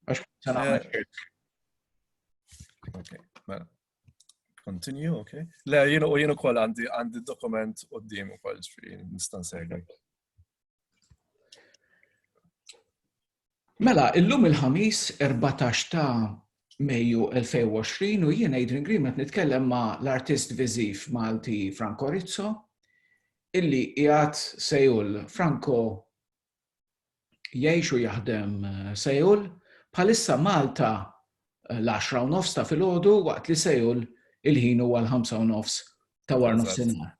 Għax se nagħmel ċirk. Okay, mela. Continue, ok. Le, jien u jien ukoll għandi għandi dokument qudiem ukoll ġifieri nista' nsegħu. Mela, illum il-ħamis 14 ta' Mejju 2020 u jien Adrian Green qed nitkellem ma' l-artist viżiv Malti Franco Rizzo illi qiegħed sejul Franco jgħix u jaħdem Seoul, bħalissa Malta l-10 u nofs ta' filgħodu waqt li Seoul il-ħin huwa l-5 u nofs ta' war nofsinhar.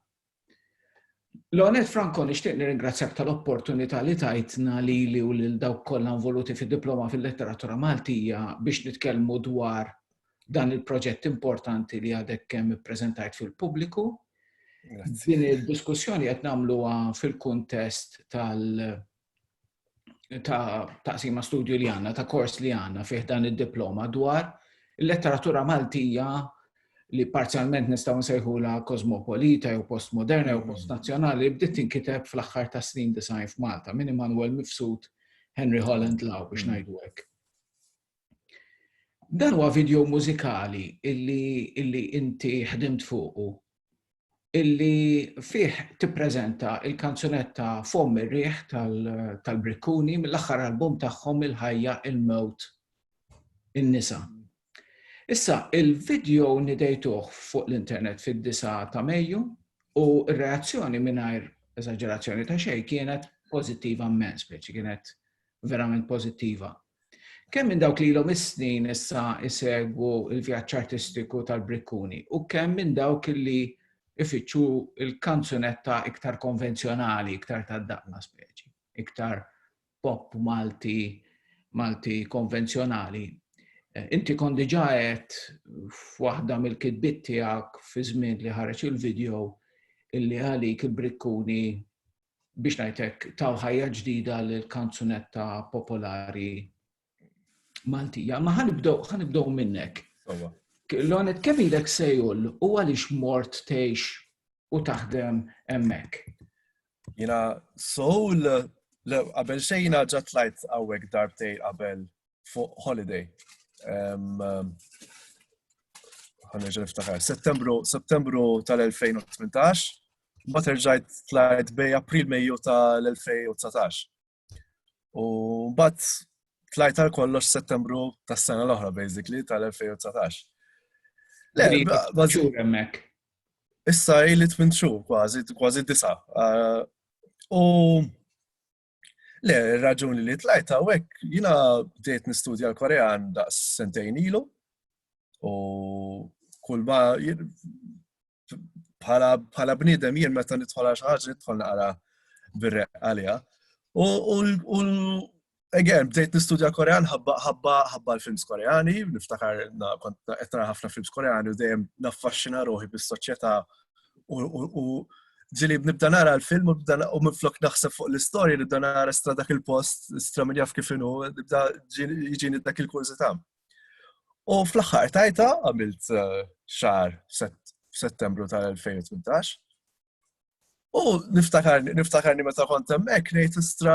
Lonet Franco nixtieq nirringrazzjak tal-opportunità li tajtna li li u lil dawk kollha involuti fid-diploma fil-letteratura Maltija biex nitkellmu dwar dan il-proġett importanti li għadek kemm ippreżentajt fil-pubbliku. Din il-diskussjoni qed nagħmluha fil-kuntest tal- ta' taqsima studju li għanna, ta' kors li għanna fih dan id-diploma dwar il-letteratura Maltija li parzjalment nistaw nsejħu la kosmopolita jew postmoderna jew mm. postnazzjonali bdiet tinkiteb fl-aħħar ta' snin design f'Malta minn Immanuel Mifsud Henry Holland Law biex mm. ngħidu hekk. Dan huwa video mużikali illi illi inti ħdimt fuqu illi fih tippreżenta il-kanzunetta Fomm ir-riħ tal-Brikkuni mill-aħħar album tagħhom Il-Ħajja il-Mewt in-Nisa. Issa, il-video nidejtuh fuq l-internet fid-9 ta' Mejju u r-reazzjoni mingħajr eżaġerazzjoni ta' xejn kienet pożittiva mmens, speċi kienet verament pożittiva. Kemm minn dawk li ilhom is-snin issa jsegwu l-vjaġġ artistiku tal-Brikkuni u kemm minn dawk li ifittxu l-kanzunetta iktar konvenzjonali, iktar tad-daqna speċi, iktar pop Malti, Malti konvenzjonali. Eh, inti kon diġa għed f'waħda mill-kitbit tiegħek fi żmien li ħareġ il-video illi għalik il-brikkuni biex ngħidlek taw ħajja ġdida lil kanzunetta popolari Maltija. Ma ħanibdew ħanibdew minnek. Lonet kemm ilek sejul u għaliex mort tgħix u taħdem hemmhekk? Jiena soul qabel xejn ġatlajt hawnhekk darbtej qabel fuq holiday. Għanġa niftaħar. Settembru, settembru tal-2018, ma terġajt tlajt bej april meju tal-2019. U bat tlajt għal kollox settembru tas sena l-oħra, basically, tal-2019. Le, bazzur emmek. Issa ili tmintxu, kważi, kważi disa. U Le, raġuni li tlajt hawnhekk jiena bdejt nistudja l-Korean daqs sentejn ilu u kull ma bħala bniedem jien meta nidħol għal xi ħaġa nidħol naqra bir-req għaliha. U again, bdejt nistudja Korean ħabba ħabba ħabba l-films Koreani, niftakar kont qed ħafna films Koreani u dejjem naffaxxina ruħi bis-soċjetà U ġili nibda nara l-film u minflok naħseb fuq l-istorja nibda nara stra dak il-post, stra minn jaf kif inhu, nibda ġini dak il-kurżità. U fl-aħħar tajta għamilt eh, xar f'Settembru tal-2018. U niftakarni meta kont hemmhekk ngħid istra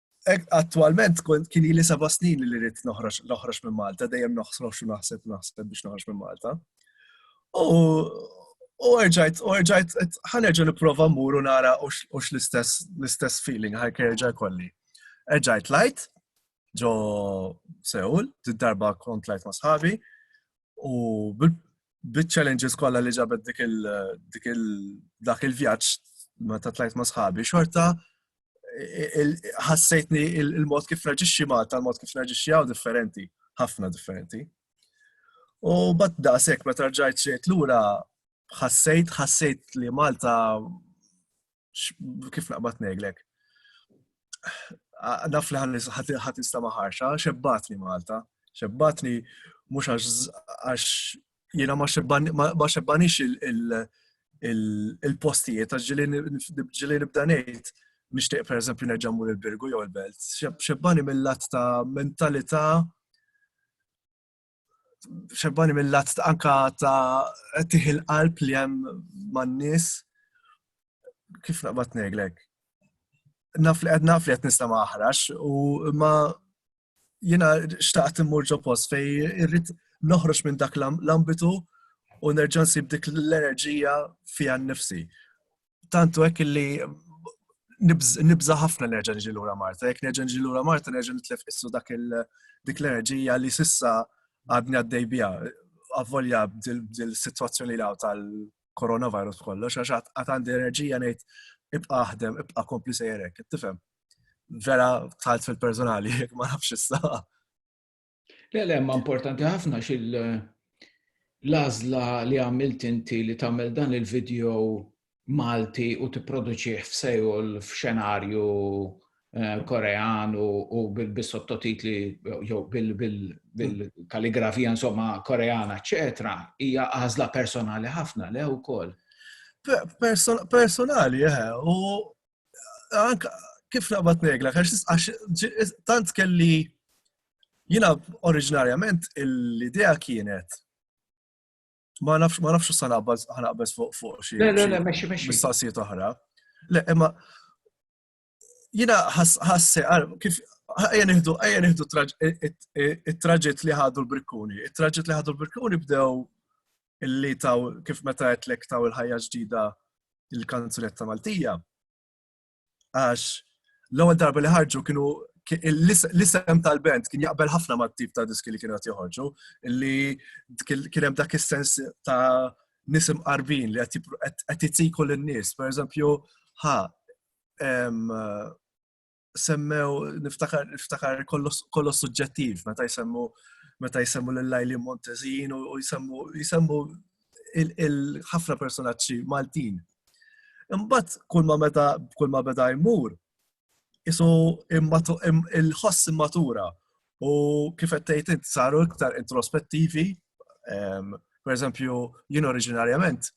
Attualment kien li seba' snin li rrid noħroġ minn Malta, dejjem noħsrox u naħseb naħseb biex noħroġ minn Malta. U erġajt, u erġajt, ħanerġa niprofa mmur u nara u l-istess l-istess feeling ħajk erġa' kolli. Erġajt lajt ġo Seul, darba kont lajt ma' sħabi, u bit-challenges kollha li ġabet dik il-dak il-vjaġġ ma ta' tlajt ma' sħabi xorta ħassejtni il-mod kif naġixxi Malta, il-mod kif naġixxi għaw differenti, ħafna differenti. U bat da sekk meta rġajt xejt lura ħassejt ħassejt li Malta kif naqbad neglek. Naf li ħat nista maħarxa, xebbatni Malta, xebbatni mhux għax jiena ma xebbanix il-postijiet, għax ġili nibda ngħid nixtieq per eżempju nerġa' mur il-Birgu jew il-Belt. Xebbani mill-lat ta' mentalità xebbani mill-lat anka ta' tiħi l-qalb li hemm man-nies. Kif naqbad ngħidlek? Naf li qed naf li qed nista' maħrax u ma Jena xtaqt immur ġo post fej irrit noħroġ minn dak l-ambitu u nerġa' nsib dik l-enerġija fija nnifsi. Tantu hekk li nibża ħafna nerġa' niġi lura Marta, jekk nerġa' niġi lura Marta nerġa' nitlef issu dak dik l-enerġija li sissa għadni għaddej biha. Avvolja dil-sitwazzjoni li tal-coronavirus kollox, għax għad għandi enerġija ngħid ibqa' aħdem, ibqa' kompli sejrek, tifhem? vera tħalt fil-personali, jek ma nafx issa. Le, le, ma importanti ħafna xil lazla li għamilt inti li tamel dan il-video Malti u t-produċiħ f'Sejol f'xenarju eh, korean u bil-sottotitli jew bil-kalligrafija insomma koreana, eċetera, hija għażla personali ħafna le wkoll. Personali, eh, u kif naqbad negla, għax tant kelli jina oriġinarjament l-idea kienet ma nafx ma nafx sa naqbad ħanaqbeż fuq fuq xi. Le le le mexxi mexxi. Mistaqsijiet oħra. Le imma jina ħasse kif ejja nieħdu ejja nieħdu it-traġett li ħadu l-brikkuni. It-traġett li ħadu l-brikkuni bdew illi taw kif meta għetlek taw il-ħajja ġdida il-kanzunetta Maltija. Għax l-ewwel darba li ħarġu kienu l-isem tal-band kien jaqbel ħafna ma' tip ta' diski li kienu għat joħorġu, illi kien hemm dak is-sens ta' nisim qarbin li qed jitiku lin-nies. Per eżempju, ħa semmew, niftakar, niftakar kollox suġġettiv, meta jsemmu meta jsemmu l-lajli Montezin u jsemmu il-ħafna personaċċi Maltin. Imbagħad kull ma meta kull ma beda jmur isu il-ħoss immatura u kif qed tgħid saru iktar introspettivi. Per eżempju, jien oriġinarjament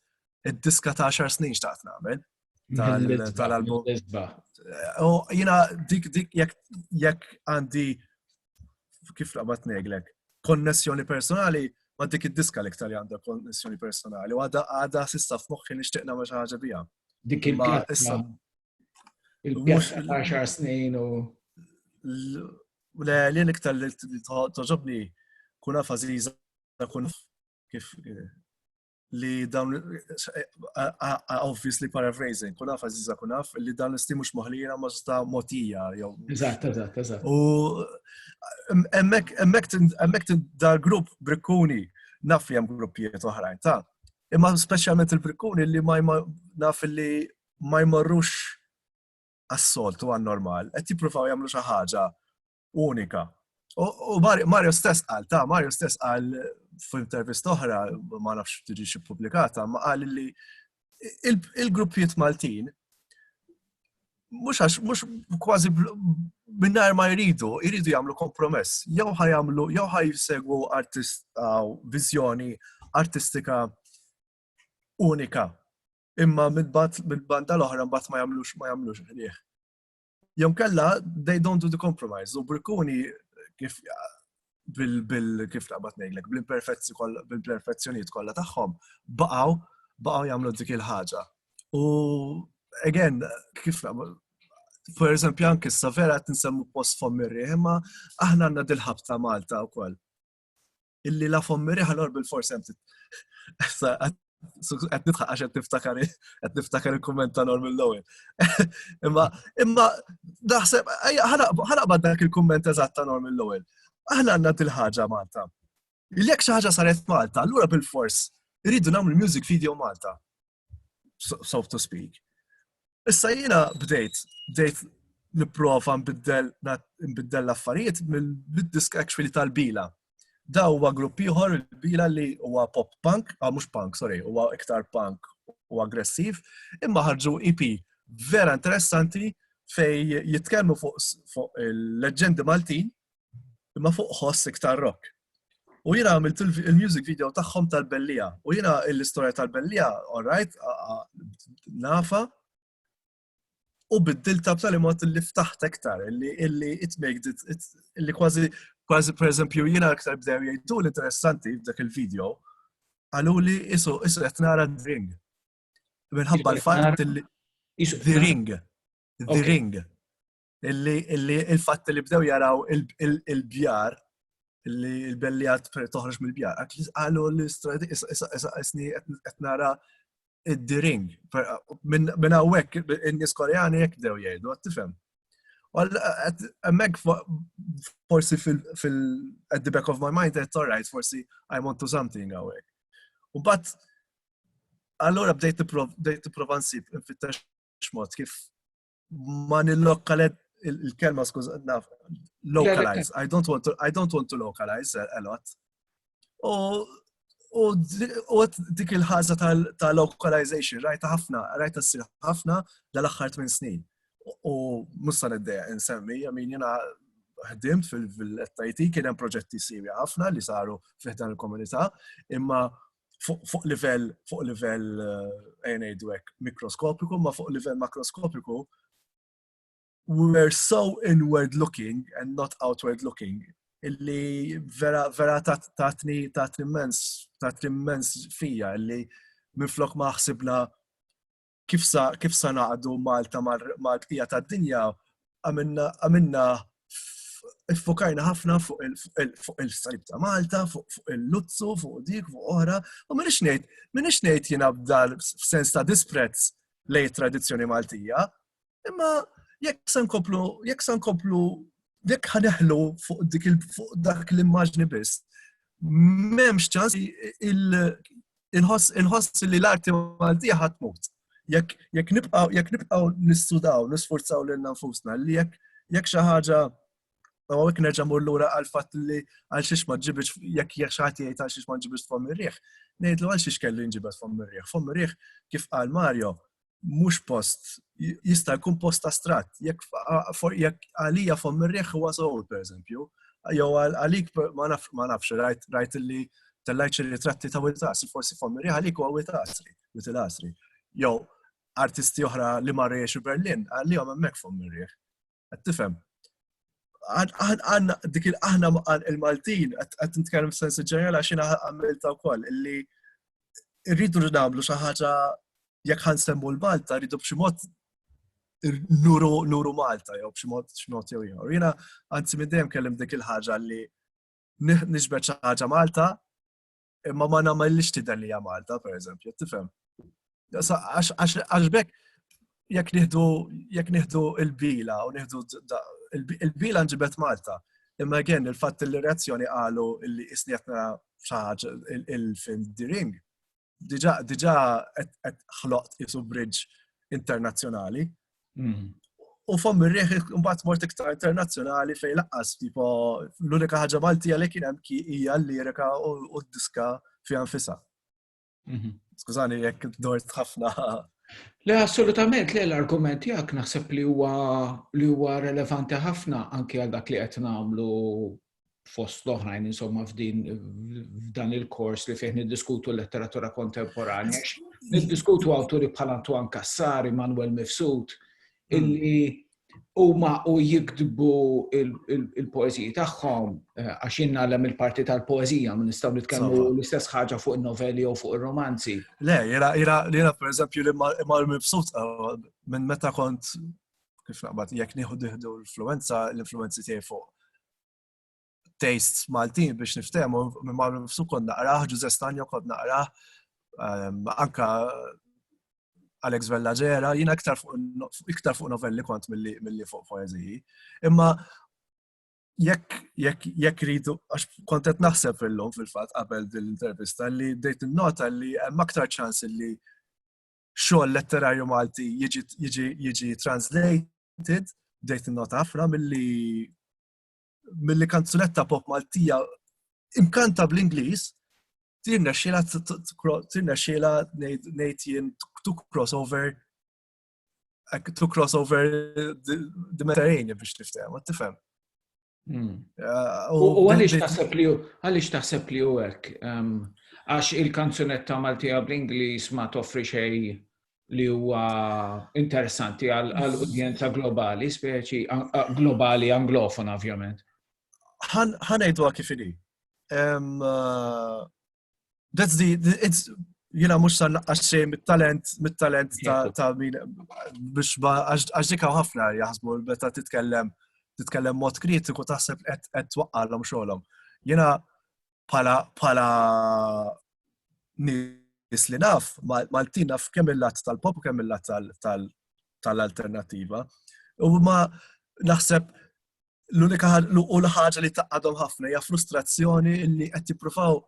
id-diska ta' xar snin xtaqt nagħmel, tal-album. U jina dik dik jekk għandi kif laqbat neglek, konnessjoni personali ma dik id-diska li ktar għandha konnessjoni personali u għadha għadha sista f'moħħi nixtieq nagħmel xi ħaġa biha. Dik il-pjazza. Il-pjazza ta' xar snin u. Le, li niktar li toġobni kuna faziza kuna kif li dawn obviously paraphrasing, kun għaf għaziza kun għaf li dan l-isti mux moħlira ma sta motija jew. Eżatt, eżatt, eżatt. U emmek da grupp brikkuni naf li hemm gruppijiet oħrajn ta' imma speċjalment il-brikkuni li ma naf li ma jmorrux għas-soltu għan-normal, qed jippruvaw jagħmlu xi ħaġa unika. U Mario stess qal, ta' Mario stess qal f'intervist oħra, ma nafx tiġi xi pubblikata, ma qal li il-gruppijiet Maltin mhux għax mhux kważi minnar ma jridu, jridu jagħmlu kompromess. Jew ħajamlu, jew ħajsegwu artist viżjoni artistika unika. Imma mid-banda l-oħra mbagħad ma jagħmlux ma jagħmlux ħlieh. Jew kella, they don't do the compromise. U Brikkuni, kif bil kif naqbad ngħidlek, bil-perfezzjonijiet kollha tagħhom, baqgħu baqgħu jagħmlu dik il-ħaġa. U again, kif naqbad per eżempju, anki s vera qed nsemmu post fommirri, imma aħna għandna dil-ħabta Malta wkoll. illi la fommi riħa l bil-fors hemm qed nidħaq għax qed niftakar qed niftakar il-kumment ta' Norm l-ewwel. Imma imma naħseb ħanaqbad dak il-kumment eżatt ta' Norm l-ewwel. Aħna għandna dil-ħaġa Malta. Jekk xi ħaġa saret Malta, allura bil-fors irridu nagħmlu music video Malta. so to speak. Issa jiena bdejt, bdejt niprofa nbiddel l-affarijiet mill-disk actually tal-bila. Da huwa grupp ieħor il-bila li huwa pop punk, ah mhux punk, sorry, huwa iktar punk u aggressiv, imma ħarġu EP vera interessanti fej jitkellmu fuq il-leġendi Maltin imma fuq ħoss iktar rock. U jina għamilt il-music video tagħhom tal-bellija. U jina l-istorja tal-bellija, alright, nafa. U biddilta b'tali mod li ftaħt iktar, illi it makes it, illi kważi, kważi per eżempju, jina iktar bdew jgħidu l-interessanti f'dak il-video, għalu li isu, isu qed nara d-ring. Minħabba l-fatt li. The ring. The ring. illi il-fatt li bdew jaraw il-bjar illi il-bellijat toħroġ mill-bjar. Għalu l-istradi isni qed nara id-diring. Minn hawnhekk in-nies Koreani jekk bdew jgħidu, tifhem. Emmek forsi fil-at the back of my mind, it's alright, forsi I want to something għawek. U bat, allora bdejt t-prova nsib, nfittex mod kif ma nil-lokalet il-kelma skuż naf localize. I don't want to I don't want to localize a lot. U dik il-ħaża ta' localization rajta ħafna, rajta ssir ħafna dal-aħħar tmien snin. U musta niddeja insemmi, min jena ħdim fil-FIT kien hemm proġetti sirja ħafna li saru fiħdan il-komunità, imma fuq livell fuq livell eh, ngħidu hekk mikroskopiku, ma fuq livell makroskopiku we're so inward looking and not outward looking illi vera vera tatni tatni immens tatni immens fija illi minflok ma ħsibna kif sa kif sa naqdu Malta mal-bqija tad-dinja għamilna Iffokajna ħafna fuq il-salib ta' Malta, fuq il-luzzu, fuq dik, fuq oħra, u minix ngħid, minix ngħid jiena b'dal f'sens ta' disprezz lej tradizzjoni Maltija, Imma jekk se nkomplu, jekk se nkomplu, jekk ħaneħlu fuq dik fuq dak l-immaġni biss, m'hemmx ċans il-ħoss li l-arti Maltija ħadd mut. Jekk jekk nibqgħu jekk nibqgħu nissudaw, nisforzaw lil nfusna li jekk jekk xi ħaġa u jekk nerġa' mur lura għal fatt li għal xiex ma ġibx jekk jekk xi ħadd jgħid għal xiex ma ġibx tfomm ir-riħ, ngħidlu għal xiex kelli nġibet tfomm ir-riħ. Tfomm ir-riħ kif qal Mario, mhux post, jista' jkun post astratt, jekk għalija fom ir-riħ huwa żgħur pereżempju, jew għalik ma nafx rajt li tellajt xi ritratti ta' witasri, forsi fom ir-riħ għalik huwa witasri, witasri. Jew artisti oħra li marru jiexu Berlin, għalihom hemmhekk fom ir-riħ. Qed tifhem? Għanna dik aħna il-Maltin qed nitkellem sens ġenerali għax jiena għamilta wkoll illi rridu nagħmlu xi ħaġa jekk ħan semmu l-Malta rridu b'xi mod nuru nuru Malta jew b'xi mod x'mod jew ieħor. Jiena anzi minn dejjem kellim dik il-ħaġa li nixbet xi ħaġa Malta imma ma nagħmellix tidher li hija Malta, pereżempju, tifhem. Għax bekk jekk nieħdu jekk nieħdu il-bila u nieħdu il-bila nġibet Malta. Imma again il-fatt li reazzjoni qalu li isni qed nara xaħġa il-film The Ring. Diġà diġà qed ħloqt isu bridge internazzjonali Hmm. U fom ir-riħ imbagħad mort iktar internazzjonali fejn laqqas tipo l-unika ħaġa Maltija li kien hemm ki hija l-lirika u d-diska fiha nfisha. Mhm. Skużani jekk dort ħafna. Le assolutament le l-argument jak naħseb li huwa li huwa relevanti ħafna anke għal dak li qed nagħmlu fost l-oħrajn insomma f'din f'dan il-kors li fih niddiskutu l-letteratura kontemporanja, niddiskutu awturi bħal Antoine Cassari, Manuel Mifsud, hmm. illi huma u jiktbu il-poeziji tagħhom eh, għax jinnallem il-parti tal-poezija minn nistgħu nitkellmu l-istess ħaġa fuq in-novelli jew fuq ir-romanzi. Le, jiena jiena pereżempju li mal-mibsut eh, minn meta kont kif naqbad, jekk nieħu diħdu l-influenza, l-influenzi tiegħi fuq taste Maltin biex niftehmu, minn marru nifsu kod naqraħ, Ġuże Stanjo kod naqraħ, ehm, anka Alex Vella Ġera, jina iktar fuq novelli kont mill-li fuq poeziji. Imma jekk jekk jekk ridu għax kontet naħseb fil-lum fil-fatt qabel din l-intervista li bdejt nota li hemm aktar ċans li xogħol letterarju Malti jiġi translated, bdejt nota ħafna milli milli kanzunetta pop Maltija imkanta bl-Ingliż tirna xiela tirna xiela ngħid jien to crossover to crossover the Mediterranean biex tifhem, tifhem. Hmm. Eh, u għaliex taħseb li għaliex taħseb li u hekk? Ehm, għax il-kanzunetta Maltija bl-Ingliż ma toffri xej li huwa interessanti għal udjenza globali, speċi globali anglofona ovvjament. Ħanajdu kif inhi. Ehm, eh, That's the, it's, jina mux sa' naqqas xej mit-talent, mit-talent ta' min, biex għax dikaw ħafna jaħsbu, beta titkellem, titkellem mod kritiku taħseb qed twaqqalhom xogħolhom. Jina pala pala nis li naf, Maltin naf kemm il-lat tal-pop u kemm il-lat tal-alternativa. U ma naħseb l-unika u l-ħaġa li taqadhom ħafna hija frustrazzjoni li qed jippruvaw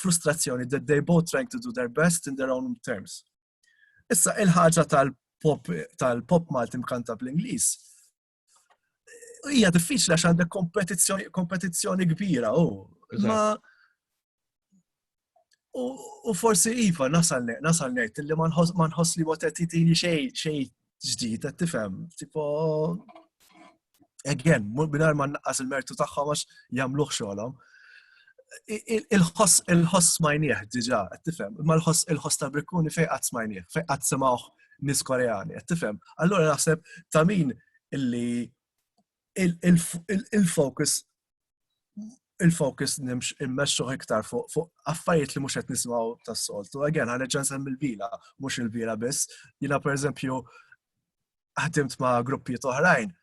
frustrazzjoni that they both trying to do their best in their own terms. Issa il-ħaġa tal-pop tal-pop Malti mkanta bl-Ingliż hija diffiċli għax għandek kompetizzjoni kbira u ma U forsi iva nasal nasal ngħid li ma nħoss li waqt qed jtini xejn xejn ġdid qed tifhem. Tipo again, mingħajr ma naqqas il-mertu tagħhom għax jagħmluh xogħolhom. Il-ħoss il-ħoss smajnieh diġà qed tifhem, imma l-ħoss il-ħoss ta' Brikkuni fejn qatt smajnieh, fejn qatt semgħuh nis Koreani, qed tifhem. Allura naħseb ta' min illi il-focus il-focus nimx immexxu iktar fuq affarijiet li mhux qed nisimgħu tas-soltu. Again, ħareġ nsem il-vila, mhux il-vila biss. Jiena pereżempju ħdimt ma' gruppijiet oħrajn,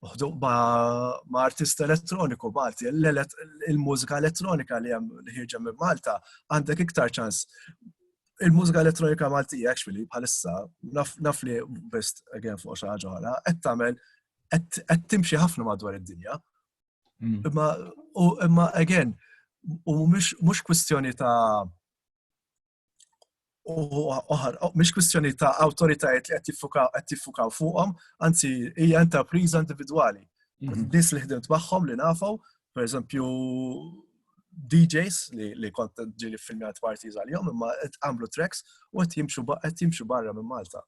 ma' artist elettroniku Malti, il-mużika elettronika li hemm li ħirġa minn Malta għandek iktar ċans. Il-mużika elettronika Malti actually bħalissa naf li best again fuq xi ħaġa oħra qed tagħmel qed timxi ħafna madwar id-dinja. Mm. Imma u imma again, u mhux kwistjoni ta' oħar, mhux kwistjoni ta' awtoritajiet li qed jiffukaw fuqhom, anzi hija enterpriża individwali. Mm-hmm. Nis li ħdimt magħhom li nafu, per eżempju DJs li, li kont ġili filmjat partiz għal-jom, imma għamlu tracks u għet jimxu barra minn Malta.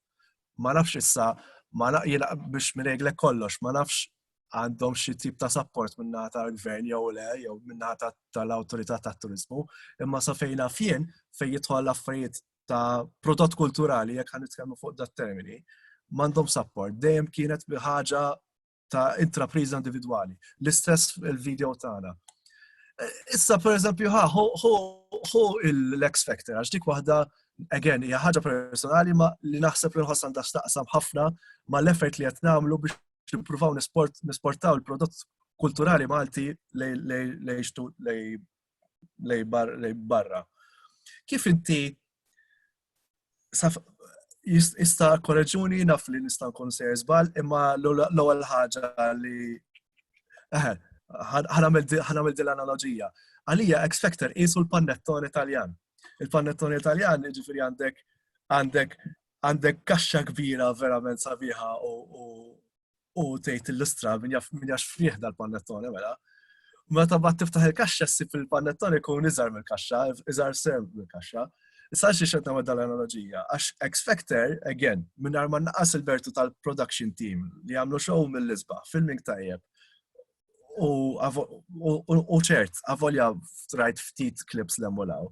ma nafx issa, ma nafx jena biex mireglek kollox, ma nafx għandhom xi tip ta' support minna ta' gvern jew le, jew minna tal-autorità ta' turizmu, imma sa fejna fien fej jitħol affarijiet ta' prodott kulturali jekk ħan nitkellmu fuq dat termini, m'għandhom support, dejjem kienet ħaġa ta' intrapriża individwali. L-istess il-video tagħna. Issa, per eżempju, ha, hu l-X Factor, għax dik waħda, again, hija ħaġa personali ma li naħseb li nħoss għandha x'taqsam ħafna ma l-effort li qed nagħmlu biex nippruvaw nisportaw il-prodott kulturali Malti lej barra. Kif inti jista' korreġuni naf li nista' nkun se żball, imma l-ewwel ħaġa li ħanamel din l-analoġija. Għalija X Factor qisu l-pannettone Taljan. Il-pannettone Taljan jiġifieri għandek għandek għandek kaxxa kbira verament sabiħa u u tgħid illustra min jaf min jax fih dal-pannettone mela. Meta bat tiftaħ il-kaxxa ssib il-pannettone jkun iżgħar mill-kaxxa, iżgħar serb mill-kaxxa. Issa xi xed nagħmel dal-analoġija, għax X Factor, again, minn ma naqas il-bertu tal-production team li għamlu show mill-isba, filming tajjeb, u ċert, avolja rajt ftit klips l-emmolaw.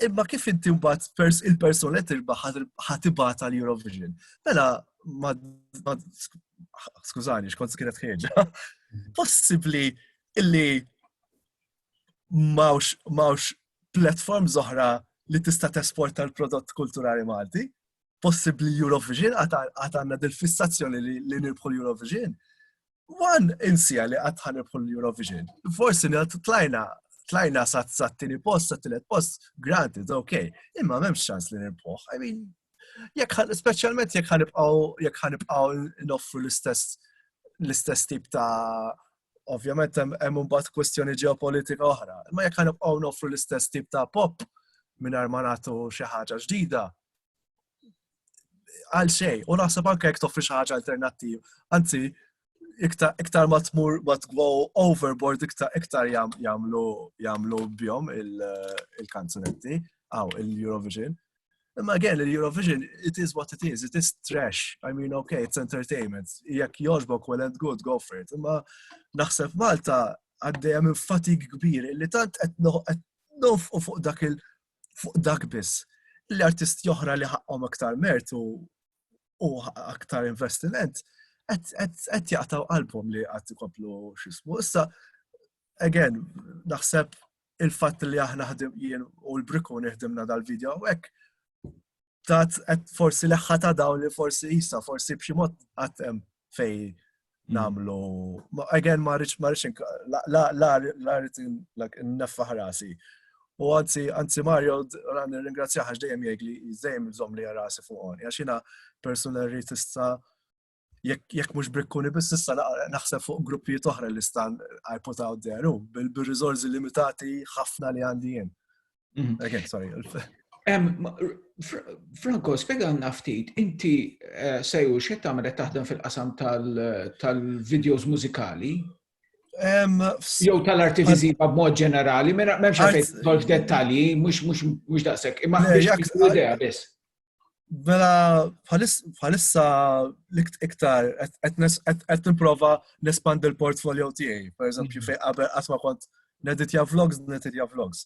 Imma kif inti mbagħad il-persuna li tirbaħ ħatibgħat għal Eurovision. Mela ma skużani, xkont kienet ħieġa. Possibbli illi mawx mawx platform zoħra li tista' tesporta l-prodott kulturali Malti. Possibbli Eurovision għad għandna dil-fissazzjoni li nirbħu l-Eurovision. Wan insija li qatt ħanibħu l-Eurovision. Forsi tlajna tlajna sa t-tini post, sa t-tilet post, granted, ok, imma memx ċans li nirpoħ. I mean, jek specialment jek ħanibqaw, jek ħanibqaw noffru l-istess, l-istess tip ta' ovvjament hemm imbagħad kwestjoni ġeopolitika oħra, imma jekk ħanibqgħu noffru l-istess tip ta' pop mingħajr ma nagħtu xi ħaġa ġdida, għal xej, u naħseb anke jekk toffri xi ħaġa alternattiv. Anzi, iktar ma tmur ma tgwo overboard iktar iktar jagħmlu jagħmlu bjom il-kanzunetti għaw il-Eurovision. Imma again, il-Eurovision, it is what it is, it is trash. I mean, okay, it's entertainment. Jekk joġbok well and good, go for it. Imma naħseb Malta għaddejja minn fatig kbir li tant qed nofqu fuq dak il- fuq dak biss. L-artisti oħra li ħaqqhom aktar mertu u aktar investiment, qed jaqtaw qalbhom li qatt ikomplu xismu. Issa, again, naħseb il-fatt li aħna ħdim jien u l-briku neħdimna dal-video hekk tat forsi leħħa ta' dawn li forsi jisa, forsi b'xi mod għatem fej mm. namlu. Again, ma rridx ma rridx la rrid neffa ħrasi. U għanzi, għanzi Mario, għan ringrazzja għax dejjem jgħid li dejjem zom li rasi fuq għoni. Għax jina persuna rritista jekk mhux brikkuni biss issa naħseb fuq gruppijiet oħra li stan I put out there u bil-riżorsi limitati ħafna li għandi jien. Mhm. Again, sorry. Franco, spiega għanna ftit, inti eh, sejju xe tamret taħdem fil-qasam tal-videos mużikali? Jow tal-arti viziva b'mod ġenerali, memx għafet tolf dettalji, mux daqsek, imma biex idea biss. Mela, bħalissa iktar, qed nipprova nespandi l-portfolio tiegħi. Per eżempju, fejn qabel qatt ma kont neditja vlogs, neditja vlogs.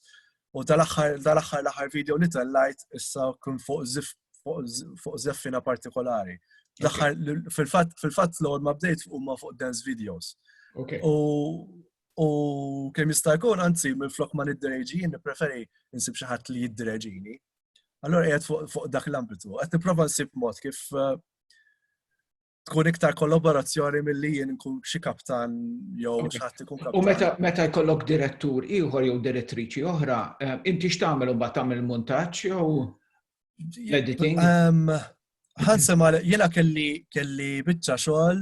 U dal-aħħar dal-aħħar l-aħħar video li tellajt issa kun fuq zif fuq zeffina partikolari. L-aħħar fil-fatt fil-fatt l ma bdejt huma fuq dance videos. U u kemm jista' jkun anzi minn flok ma niddereġi, nippreferi nsib xi ħadd li jiddereġini. Allora qiegħed fuq dak l-ambitu. Qed nipprova nsib mod kif eh, tkun iktar kollaborazzjoni mill-li jien nkun xi kaptan jew xatt ikun kaptan. U meta meta jkollok direttur ieħor jew direttriċi oħra, eh, inti x'tagħmel imbagħad tagħmel montaġġ jew editing? Ehm, Ħansem għal jiena kelli kelli biċċa xogħol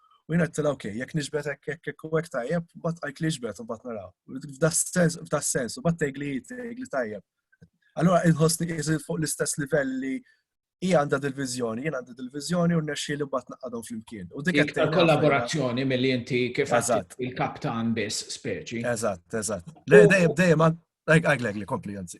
U jina t-tila, ok, jek nġbet ek ek ek ek tajjeb, bat għajt li ġbet u bat naraw. F'da sens, u bat tegli tegli tajjeb. Allora, inħosni jizil fuq l-istess livell li hija għandha dil-vizjoni, jien għandha dil-vizjoni u nexxi li bat naqadhom fl-imkien. U dik qed kollaborazzjoni mill inti kif il-kaptan biss speċi. Eżatt, eżatt. Dejjem dejjem għaglek li kompli anzi.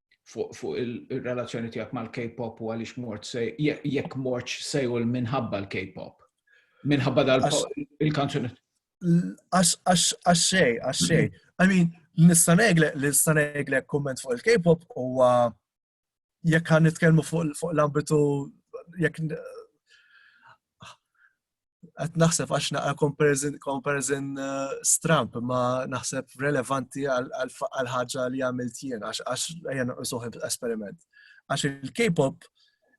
fuq il-relazzjoni tiegħek mal-K-pop u għaliex mort se jekk mortx sejwel minħabba l-K-pop. Minħabba dal il-kanzuni. Għaxxej, għaxxej. I mean, nistanegle, nistanegle komment fuq il-K-pop u jekk għan nitkelmu fuq l-ambitu jekk qed naħseb għax naqra comparison, comparison uh, stramp ma naħseb relevanti għal ħaġa li għamilt jien għax għax ejja noqsuħ esperiment. Għax il-K-pop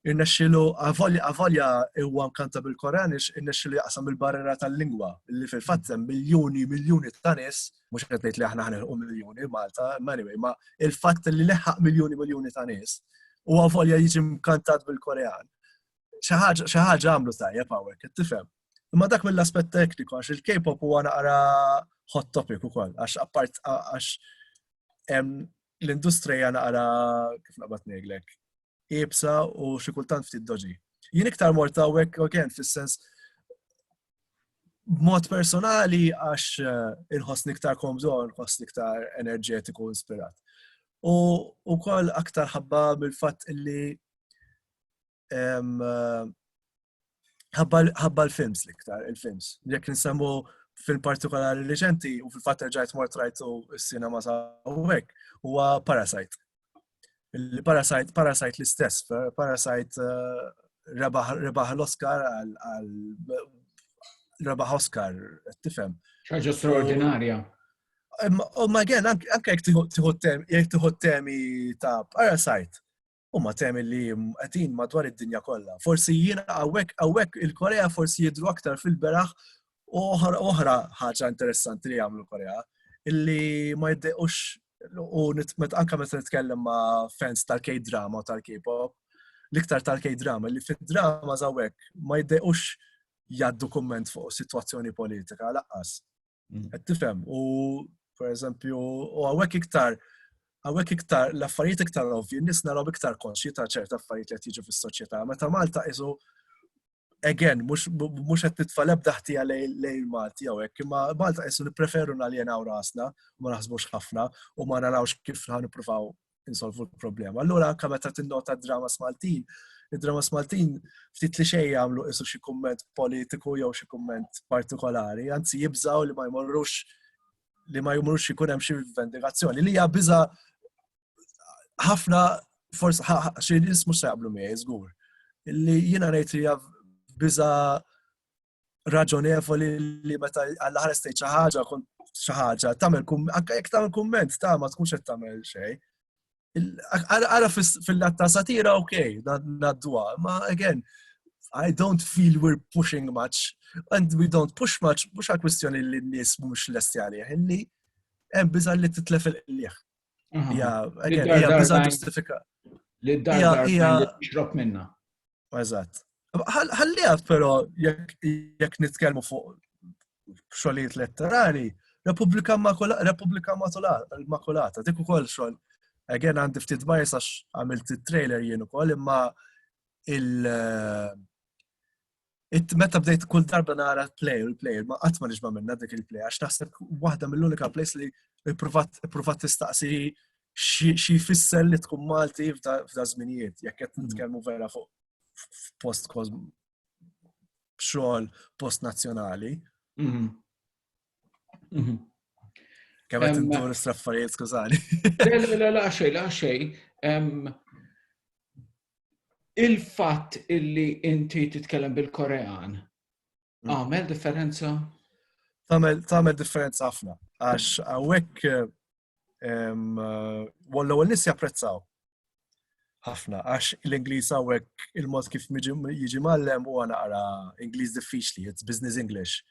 irnexxilu għavolja huwa mkanta bil-Koran ix irnexxilu jaqsam il-barrera tal-lingwa li fil-fatt hemm miljuni miljuni ta' nies mhux qed ngħid li aħna ħanilħu miljuni Malta, anyway, ma il-fatt li leħaq miljuni miljuni ta' nies u għavolja jiġi mkantat bil-Korean xi ħaġa għamlu tajjeb hawnhekk, qed tifhem. Imma dak mill-aspett tekniku għax il-K-pop huwa naqra hot topic ukoll għax appart għax l-industrija naqra kif naqbad ngħidlek ibsa u xi kultant ftit doġi. Jien iktar mort hawnhekk again fis-sens b'mod personali għax eh, inħossni iktar komdu, inħossni iktar enerġetiku inspirat. U wkoll aktar ħabba mill-fatt illi ħabba l-films l-iktar, il-films. Jek nsemmu fil partikolari reċenti u fil-fatt ġajt mort rajtu s-sinema sa' għek, huwa Parasite. Parasite, Parasite l-istess, Parasite eh, rebaħ l-Oscar għal rebaħ Oscar, tifem. ċaġa straordinarja. U ma għen, anke jek tiħu temi ta' Parasite, huma temi li qegħdin madwar id-dinja kollha. Forsi jiena hawnhekk hawnhekk il-Korea forsi jidru aktar fil-beraħ u oħra ħaġa interessanti li jagħmlu Korea illi ma jiddequx u anka meta nitkellem ma' fans tal-K-drama u tal-K-pop, l-iktar tal-K-drama li fid-drama zawek ma jiddequx jaddu komment fuq situazzjoni politika laqqas. Qed tifhem u pereżempju u hawnhekk iktar hawnhekk iktar l-affarijiet iktar ovvji, n-nies naraw iktar konxji ta' ċerta affarijiet li qed jiġu fis-soċjetà. Meta Malta isu again, mux għed titfa lebda ħtija lejn Malti għawek, imma Malta jessu nipreferu naljenaw rasna, ma naħsbux ħafna, u ma narawx kif ħan niprufaw insolvu l-problema. Allura anka meta tinnota dramas Maltin, id-dramas Maltin ftit li xejn jagħmlu isu xi kumment politiku jew xi kumment partikolari, anzi jibżaw li ma jmorrux li ma jmorrux ikun hemm xi vendikazzjoni li hija biża ħafna forsi xi nies mhux se jaqblu miegħi żgur. Li jiena ngħid li hija biża raġonevoli li meta għall-ħares tgħid xi ħaġa kont xi ħaġa tagħmel anke jekk tagħmel kumment ta' ma tkunx qed tagħmel xejn. Ara fil-lat ta' satira ok, nadduha, ma again, I don't feel we're pushing much and we don't push much mhux għal kwistjoni li n-nies mhux lesti għalih, illi hemm biża' li titlef il-qliħ. Li d-dar xrob minna. Eżatt. Ħalli għaf, pero, jekk nitkellmu fuq xogħlijiet letterari, Repubblika Makulata, dik ukoll xogħol. Again għandi ftit bajs għax għamilt it-trailer jien ukoll, imma il- meta bdejt kull darba nara l-play u l-player ma qatt ma nixba minna dik il-play għax naħseb waħda mill-unika plays li provat tistaqsi xi jfisser li tkun Malti f'da żminijiet jekk qed nitkellmu vera fuq post xogħol post nazzjonali. Mhm. Kemm qed indur straffarijiet skużani. La la xej, la xej. Il-fatt illi inti titkellem bil-Korean mm. għamel differenza? Tamel differenza ħafna. Għax għawek eh, Wallu għal nis japprezzaw. Ħafna, għax l-Inglis għawek il-mod kif jiġi mallem u għana għara Inglis diffiċli, it's business English.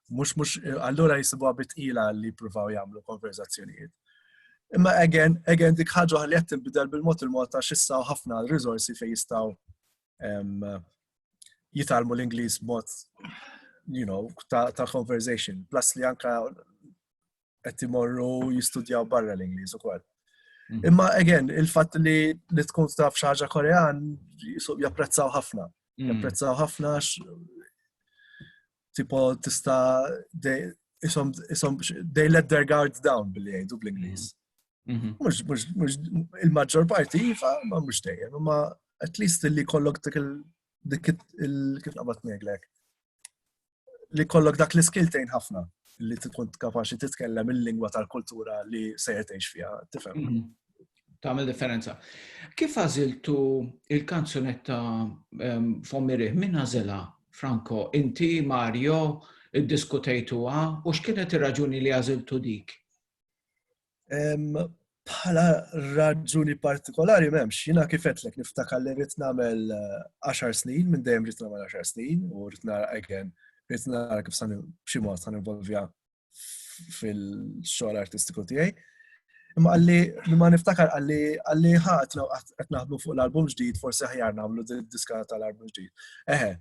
Mux, mux, allura jisibu għabit ila li provaw jamlu konverzazzjonijiet. Imma again, again dik ħagħu għalli għattin bidal bil-mod il-mod ta' xissaw ħafna l-rizorsi fej jistaw jitalmu l-Inglis mod, you know, ta', ta conversation. Plus li anka qed imorru jistudjaw barra l-Ingliż ukoll. Mhm. Imma again, il-fatt li li tkun taf xi ħaġa Korean japprezzaw ħafna. Mhm. Japprezzaw ħafna tipo tista' isom they let their guard down billi jgħidu bl-Ingliż. Mhm. il-maġġor parti jifa, iva, ma mhux dejjem, imma at least li kollok dik il-kif qabat ngħidlek li kollok dak l-iskill tgħin ħafna li tkun kapaċi titkellem il-lingwa tal-kultura li se tgħix fiha, tifhem. Mhm. Tagħmel differenza. Kif għażiltu il-kanzunetta ehm, Fommiri minn għażilha Franco, inti Mario iddiskutejtuha u x'kienet ir-raġuni li għażiltu dik? Bħala raġuni partikolari m'hemmx, jiena kifetlek niftakar li rrid nagħmel 10 eh, snin, minn dejjem rrid nagħmel 10 snin u rrid nara again, rrid nara kif san b'xi mod san involvja fil-xogħol artistiku tiegħi. Imma għalli, ma niftakar għalli għalli ħat qed naħdmu fuq l-album ġdid, forsi ħjar nagħmlu diska tal-album ġdid. Eħe,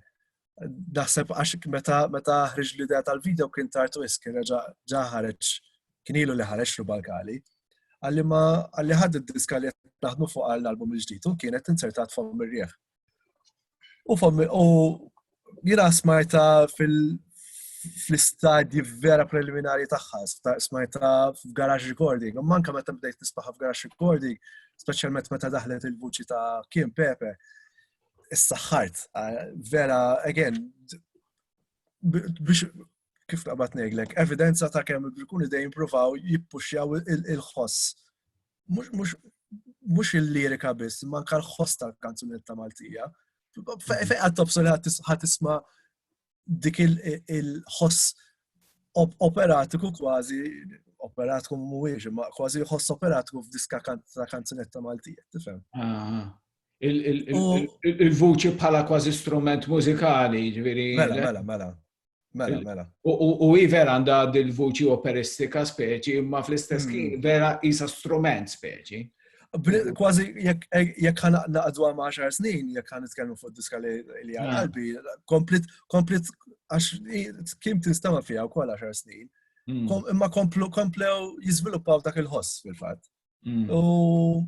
Daħseb għax meta meta ħriġ l-idea tal-video kien tartu iski reġa' ġa ħareġ kien ilu li ħareġ rubalkali. Għalli ma għalli ħadd id-diska li qed naħdmu fuq għall-album il-ġdid u kienet insertat fom ir-rieħ. U fom u jiena smajta fil fl-istadji vera preliminari tagħha, smajta f'garage recording, u manka meta bdejt nisbaħa f'garage recording, speċjalment meta daħlet il-vuċi ta' Kim Pepe, Is-saħħart, vera, again, biex kif taqbad neglek, evidenza ta' kemm ikun idej jimpruvaw jippuxjaw il-ħoss. Mux il-lirika biss, manka l-ħoss tal-kanzunetta Maltija. Fejqa tobsol ħat isma dik il-ħoss operatiku kważi, operatiku mhuwiex, ma kważi ħoss operatiku f'diska ta' kanzunetta Maltija, tifhem? Il-vuċi bħala kważi strument mużikali, ġviri. Mela, mela, mela. Mela, mela. U i vera għanda dil-vuċi operistika speċi, ma fl-istess mm. vera isa strument speċi. Kważi jekk ħana naqdu għam 10 snin, jekk ħana nitkellmu fuq diska li għal ah. qalbi, komplet, komplet, għax kim tinstama fija u kol 10 snin, hmm. imma komplu, komplew jizviluppaw dak il-ħoss fil-fat. Hmm. U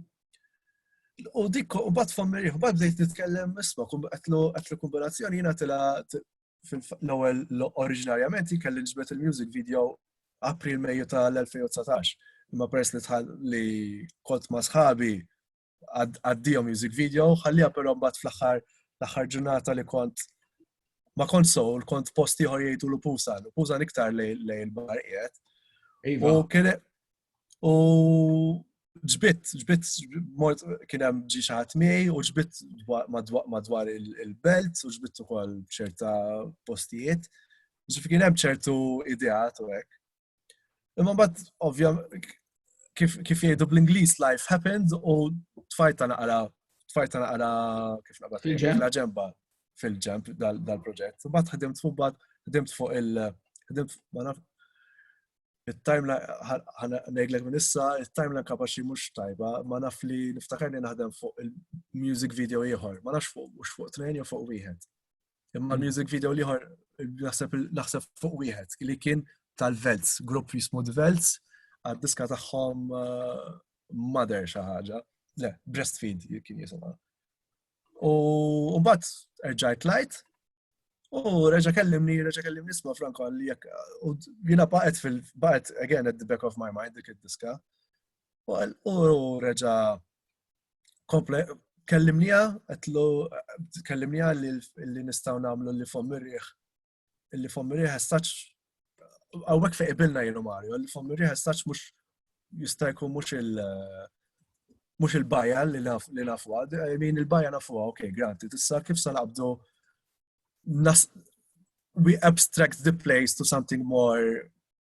U dik, u bat fammi, u bat bdejt nitkellem isma, għatlu kombinazzjoni jina tila l-ewwel oriġinarjament kelli ġbet il-music video April Mejju tal-2019. Imma peress li tħall li kont ma' sħabi għaddijom music video, ħallija però mbagħad fl-aħħar l-aħħar ġurnata li kont ma kont sowl, kont posti ħor jgħidu l-pusa, l-pusa iktar lej l-bar qiegħed. Iva. U kien U ġbit, ġbit, mort kien hemm ġi xaħat miej u ġbit madwar il-belt u ġbit ukoll ċerta postijiet. Ġifi kien hemm ċertu ideat u hekk. Imma mbagħad ovvja kif jgħidu bl-Ingliż life happens u tfajta naqra tfajta naqra kif naqra fil-ġemba ġemba fil-ġemb dal-proġett. Mbagħad ħdimt fuq mbagħad ħdimt fuq il- ħdimt il-timeline, nejglek minn issa, il-timeline kapaxi mux tajba, ma naf li niftakar li naħdem fuq il-music video ieħor, ma nafx fuq mux fuq tnejn jew fuq wieħed. Imma mm. music video ieħor naħseb fuq wieħed li kien tal-Velts, grupp jismu Velts, għad-diska tagħhom uh, Mother xi ħaġa. Le, Breastfeed kien jisimha. U mbagħad erġajt tlajt U reġa kellimni, reġa kellimni isma Franco għalli jek, u jina baqet fil, baqet again at the back of my mind dik id-diska. U reġa komple, kellimnija, għetlu, kellimnija li nistaw namlu li fom mirriħ illi fommi riħa staċ għawek fejn ibilna jenu Mario, illi fommi riħa staċ mux jista' jkun mux il- mux il-baja li nafu għad, min il-baja nafu għad, ok, granti, tissa kif sa naqbdu we abstract the place to something more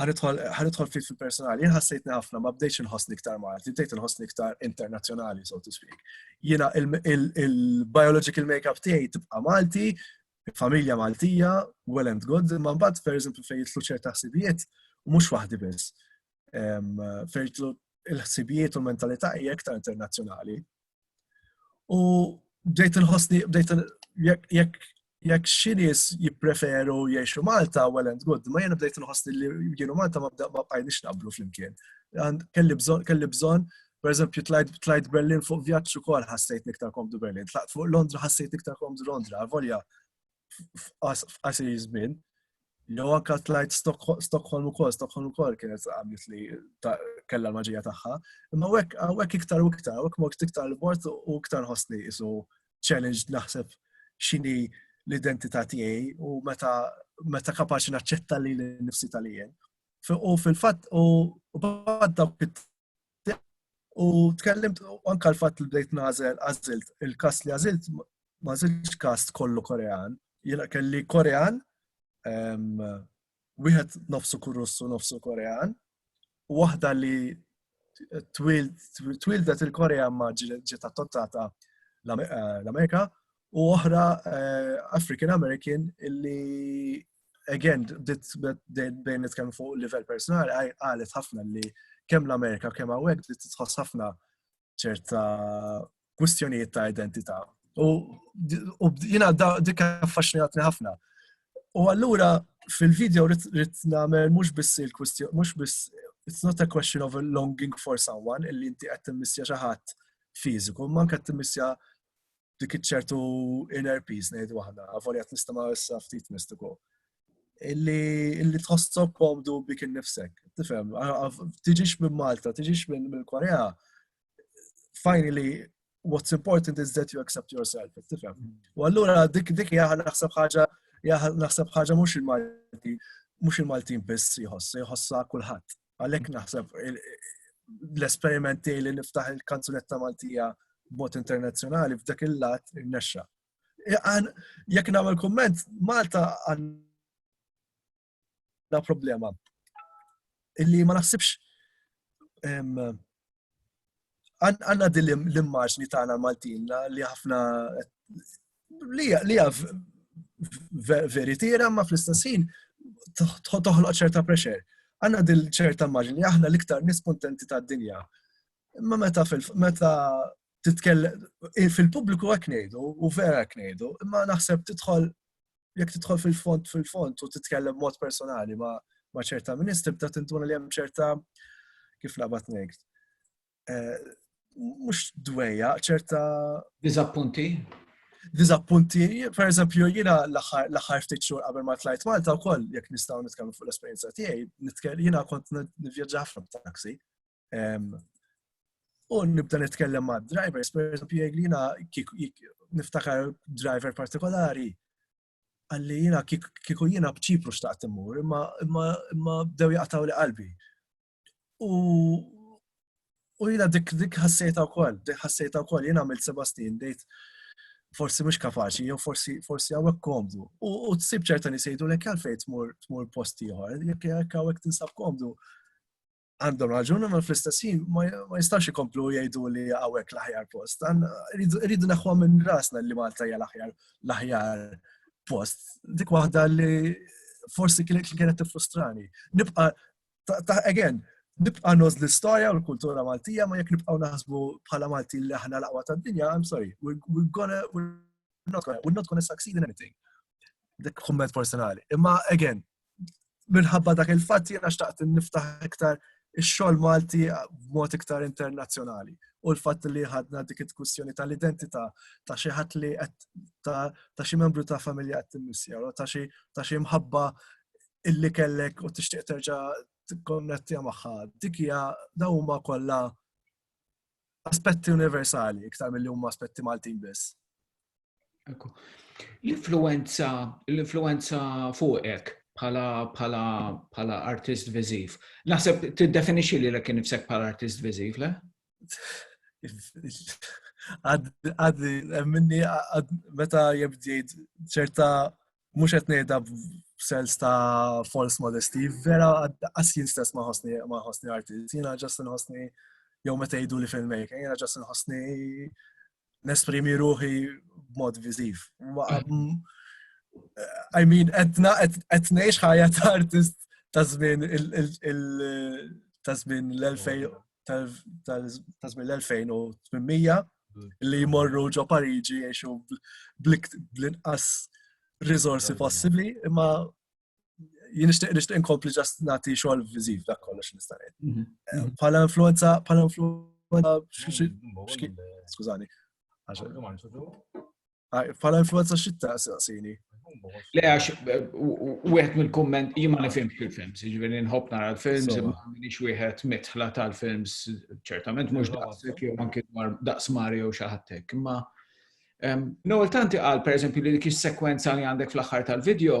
ħanidħol ftit fil-personali, jien ħassejtni ħafna, ma bdejx inħossni iktar Malti, bdejt inħossni iktar internazzjonali, so to speak. Jiena il-biological makeup tiegħi tibqa' Malti, familja Maltija, well and good, ma mbagħad per eżempju fejn jitlu ċerta ħsibijiet, u mhux waħdi biss. Fejn jitlu il-ħsibijiet u l-mentalità hija iktar internazzjonali, U bdejt inħossni, bdejt jekk jekk xinis jippreferu jiexu Malta, well and good, ma jena bdejt nħossni li jienu Malta ma bqajnix naqblu flimkien. Kelli bżon, kelli bżon, per eżempju, tlajt Berlin fuq vjaġġ ukoll ħassejt niktar komdu Berlin, tlaqt fuq Londra ħassejt niktar komdu Londra, volja f'qasir żmien. Jew anka tlajt Stockholm ukoll, Stockholm ukoll kienet għamlet li kellha l-maġija tagħha. Imma hekk iktar u iktar, hekk mort iktar l-bord u iktar ħossni isu challenge naħseb x'inhi l-identità tiegħi u meta meta kapaċi naċċetta li l-nifsi tal-jien. U fil-fatt u bad dawk U tkellimt anka l-fatt li bdejt nażel għażilt il-kas li għażilt ma żilx kast kollu Korean. Jiena kelli Korean, wieħed nofsu kurussu nofsu Korean, u waħda li twildet il-Korea ma ġiet attottata eh, l-Amerika u oħra eh, African American illi again dit bejn nitkellmu fuq livell personali qalet ħafna li kemm l-Amerika kemm hawnhekk dit tħoss ħafna ċerta kwistjonijiet ta' identità. U jiena dik affaxxinatni ħafna. U allura fil-video rrit nagħmel mhux biss il-kwistjoni mhux biss it's not a question of a longing for someone illi inti qed timmissja xi ħadd fiżiku, manka qed timmissja dik iċ-ċertu inner peace ngħid waħda, avolja tista' ma issa ftit mistiku. Illi tħossok komdu bik innifsek, tifhem, tiġix minn Malta, tiġix minn Korea, finally what's important is that you accept yourself, tifhem. Mm. U allura dik dik jaħal naħseb ħaġa naħseb ħaġa mhux il-Malti, mhux il-Maltin biss jħoss, jħossha kulħadd. Għalhekk naħseb l-esperimenti li niftaħ il-kanzunetta Maltija bot internazzjonali f'dak il-lat il-nexxa. Jekk nagħmel kumment, Malta għandha problema illi ma naħsibx għanna din l-immaġni tagħna Maltina li ħafna li hija veritiera ma fl-istess ħin toħloq ċerta pressure. Għanna din ċerta immaġni li aħna l-iktar nies kontenti tad-dinja. Imma meta meta titkellem fil-pubbliku hekk ngħidu u vera hekk ngħidu, imma naħseb tidħol jekk tidħol fil-fond fil-fond u titkellem mod personali ma' ma' ċerta ministri bda tintuna li hemm ċerta kif nabat ngħid. Eh, mhux dwejja, ċerta. Diżappunti? Diżappunti, per eżempju, jiena l-aħħar ftit xhur qabel ma tlajt Malta wkoll jekk nistgħu nitkellmu fuq l-esperjenza tiegħi, jiena kont nivvjaġġa ħafna b'taxi. U nibda nitkellem ma' drivers, per eżempju, jgħid li jina niftakar driver partikolari, għalli jina kiku jina bċipru xtaqt immur, imma bdew jaqtaw li qalbi. U jina dik dik ħassejta u koll, dik ħassejta u koll, jina għamil Sebastin, dejt forsi mux kapaxi, jew forsi forsi għawek komdu. U t-sib ċerta nisejdu l-ek għalfej tmur posti jħor, jek għawek tinsab komdu, għandhom raġun, ma fl-istess ħin ma jistax ikomplu jgħidu li għawek l-aħjar post. Rridu naħwa minn rasna li Malta hija l-aħjar l-aħjar post. Dik waħda li forsi kienet li kienet frustrani. Nibqa ta' again, nibqa noz l-istoria u l-kultura Maltija, ma jek nibqa naħsbu bħala Malti li aħna laqwa ta' dinja, I'm sorry, we're, we're gonna, we're not gonna, we're not gonna succeed in anything. Dik kumment personali. Imma again, minħabba dak il-fatt jiena xtaqt niftaħ iktar ix-xogħol Malti b'mod iktar internazzjonali. U l-fatt li ħadna dik id-diskussjoni tal-identità ta' xi ħadd li ta' xi membru ta' familja qed timmissja, ta' xi ta' xi mħabba illi kellek u tixtieq terġa' tikkonnettija magħha. Dik hija dawn huma kollha aspetti universali iktar mill-li huma aspetti Maltin biss. Ekku. L-influenza, l-influenza fuqek bħala bħala bħala artist viżiv. Naħseb tiddefinixxi li l kien nifsek bħala artist viżiv, le? Għaddi, minni, meta jibdijt ċerta mhux qed ngħidha b'sens ta' false modesty, vera qas jien stess ma ħossni ma ħossni artist, jiena ġast inħossni jew meta jgħidu li filmmaker, jiena ġast inħossni nesprimi ruħi b'mod viżiv. I mean, etna, etnejx ħajja ta' artist ta' żmien ta' żmien l-2000 tal-żmien l-2800 li jmorru ġo Pariġi jiexu bl-inqas risorsi possibli, imma jien nixtieq nixtieq inkompli ġast nagħti xogħol viżiv dak kollox nista' ngħid. Mhm. Eh, bħala influenza, bħala influenza mhm. skużani. Bħala influenza xitta saqsini. Le għax u għet mill-komment jimma li film fil-films, ġivin nħob nara l-films, minix u għet mitħla tal-films, ċertament mux daqsek jew anki daqs Mario xaħattek, imma Noel tanti għal per eżempju li kis sekwenza li għandek fl-axħar tal-video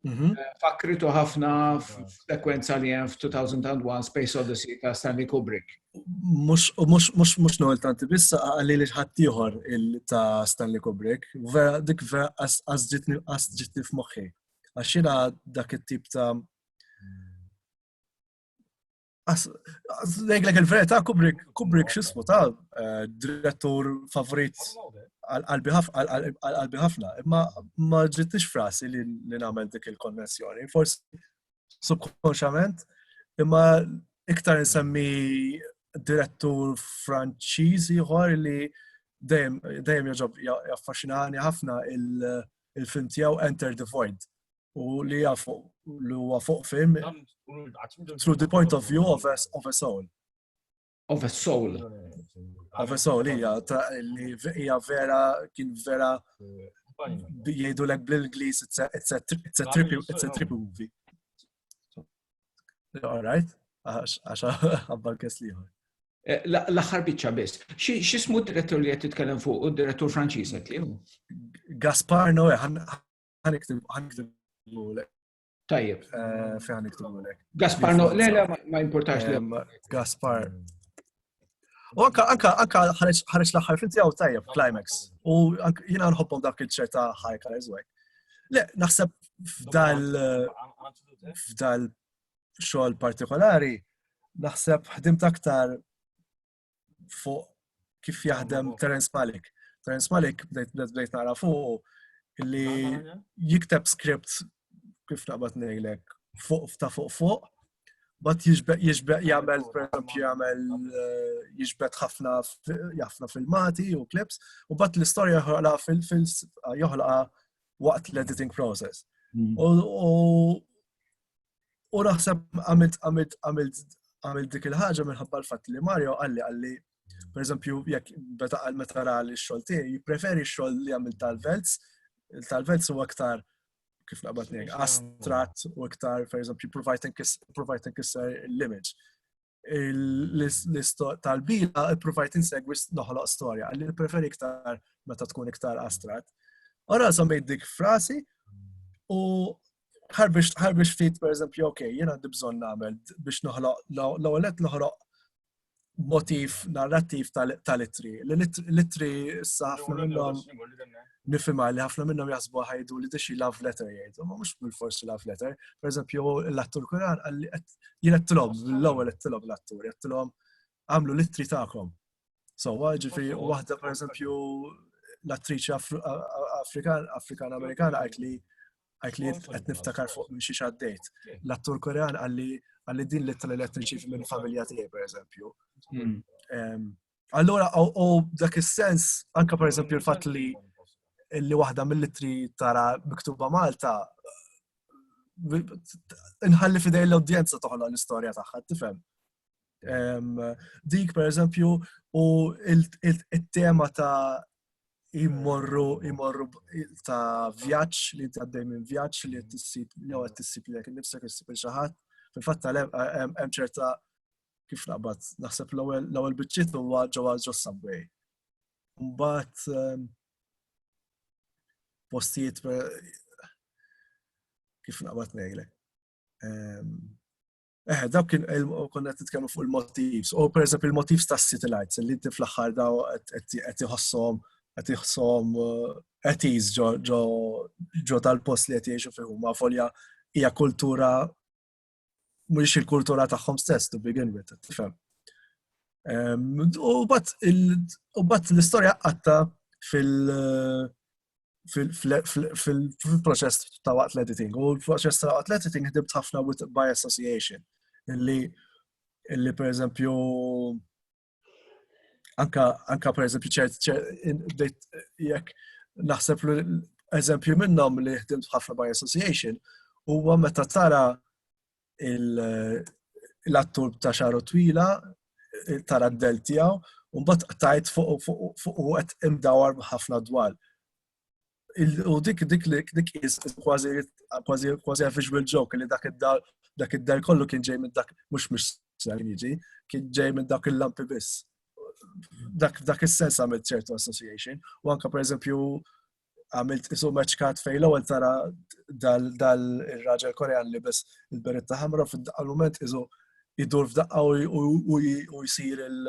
Mhm. Eh, Fakritu ħafna f'sekwenza li hemm f'2001 Space Odyssey ta' Stanley Kubrick. Mux, mux, mux, mux noħol tanti, bissa għalli li ħattijħor ta' Stanley Kubrick, vera, dik vera għazġitni għazġitni f'moħħi. Għaxina dak it-tip ta' Ngħidlek il-verità Kubrick, Kubrick x'ismu ta' eh, direttur favorit għal-qalbi ħafna, imma ma ġittix frasi li nagħmel dik il-konnessjoni. Forsi subkonxament, imma iktar nsemmi direttur Franċiż ieħor li dejjem jaffaxinani ħafna il-film tiegħu Enter the Void. u li jafu li huwa fuq fim through the point of view of a, of a soul. Of a soul. Of a soul, hija li hija vera kien vera jgħidu lek bl-Ingliż it's a it's a it's a trippy it's a trippy movie. All right, għax għabbal kes liħor. Eh, l-axar bicċa biss. Xismu d-direttur li għed titkellem fuq u d-direttur Franċiż għed li Gaspar Noe, Tajjeb. Eh, Fejn niktibulek. Gaspar, no, le, le, ma importax li. Eh, Gaspar. U anka, anka, anka ħareġ l-axħar finti għaw tajjeb, climax. U jina nħobbom dak il-ċerta ħajka eżwek. Le, naħseb f'dal f'dal xogħol partikolari, naħseb ħdimt aktar fuq kif jaħdem Terence Malik. Terence Malik bdejt nara fuq li jikteb script kif naqbad ngħidlek fuq ta' fuq fuq bat jiġbeq jiġbeq jagħmel pereżempju jagħmel eh, jiġbed ħafna jafna filmati u clips u bat l-istorja joħolqa fil-fil joħolqa waqt l-editing process. Mm. U U naħseb għamilt għamilt għamilt għamilt dik il-ħaġa minħabba l-fatt li Mario għalli għalli per eżempju, jekk beta għal meta ra li xol ti, jipreferi xol li għamil tal-velz, tal-velz u aktar kif naqbad nek, astrat u aktar, per eżempju, provajten kisser l-image. tal-bila provajt insegwi noħloq storja, għalli preferi iktar meta tkun iktar astrat. Ora żammejt dik frasi u ħarbiex fit, per eżempju, ok, jena għandi bżon namel biex noħloq, l-għolet noħloq motif narrativ tal-litri. L-litri s-saf minnhom. nifhimha li ħafna minnhom jaħsbu ħajdu li dixi love letter jgħidu, ma mhux bil-forsi love letter. Per eżempju, l-attur Kuran għalli jien qed tilhom, l-ewwel qed tilhom l-attur, qed tilhom għamlu litri tagħkom. So, ġifi, waħda per eżempju, l-attriċi Afrikan-Amerikana għajt li għajt li għet niftakar fuq minn xiex għaddejt. L-attur korean għalli għalli din li tal-elettriċi minn familja tiegħi, per eżempju. Hmm. Allura, u dak is-sens, anka per eżempju l-fat li li waħda mill-litri tara miktuba Malta, nħalli fidej l-audienza toħla l-istoria tagħha, tifhem? Dik, per eżempju, u il-tema ta' imorru, imorru ta' vjaċ li għaddej minn vjaċ li t-sib, jew t-sib li għek nifsek t-sib il-xaħat. Fil-fatta hemm ċerta kif naqbad, naħseb l-ewwel biċċiet huwa ġewwa ġo subway. Mbagħad ehm, postijiet kif naqbad ngħidlek. Ehm, eh, daw kien konna qed nitkellmu fuq il-motivs, u pereżempju il-motivs tas-city lights li inti fl-aħħar daw qed iħossom qed iħossom qed eh, ġo tal-post li qed jgħixu fihom ma' folja hija kultura mhux il-kultura tagħhom stess to begin with, tifhem. U bat l-istorja qatta fil-proċess ta' waqt l-editing. U l-proċess ta' waqt l-editing ħdibt ħafna by association. Illi, illi per eżempju, anka, anka per eżempju ċert, jekk naħseb eżempju minnhom li ħdimt ħafna by association, huwa meta tara l-attur ta' xaru twila, tara d-del tiegħu, u mbagħad tajt fuq u qed imdawar ħafna dwar. U dik dik li dik kważi kważi kważi visual joke li dak id-dar dak id-dar kollu kien ġej minn dak mhux mhux ser jiġi, kien ġej minn dak il-lampi biss. Dak dak is-sens għamilt ċertu association u anke pereżempju għamilt isu meċkat fej l-ewwel tara dal ir-raġel Korean li biss il-beretta ħamra fid-daqqa l-moment isu idur f'daqqa u jsir il-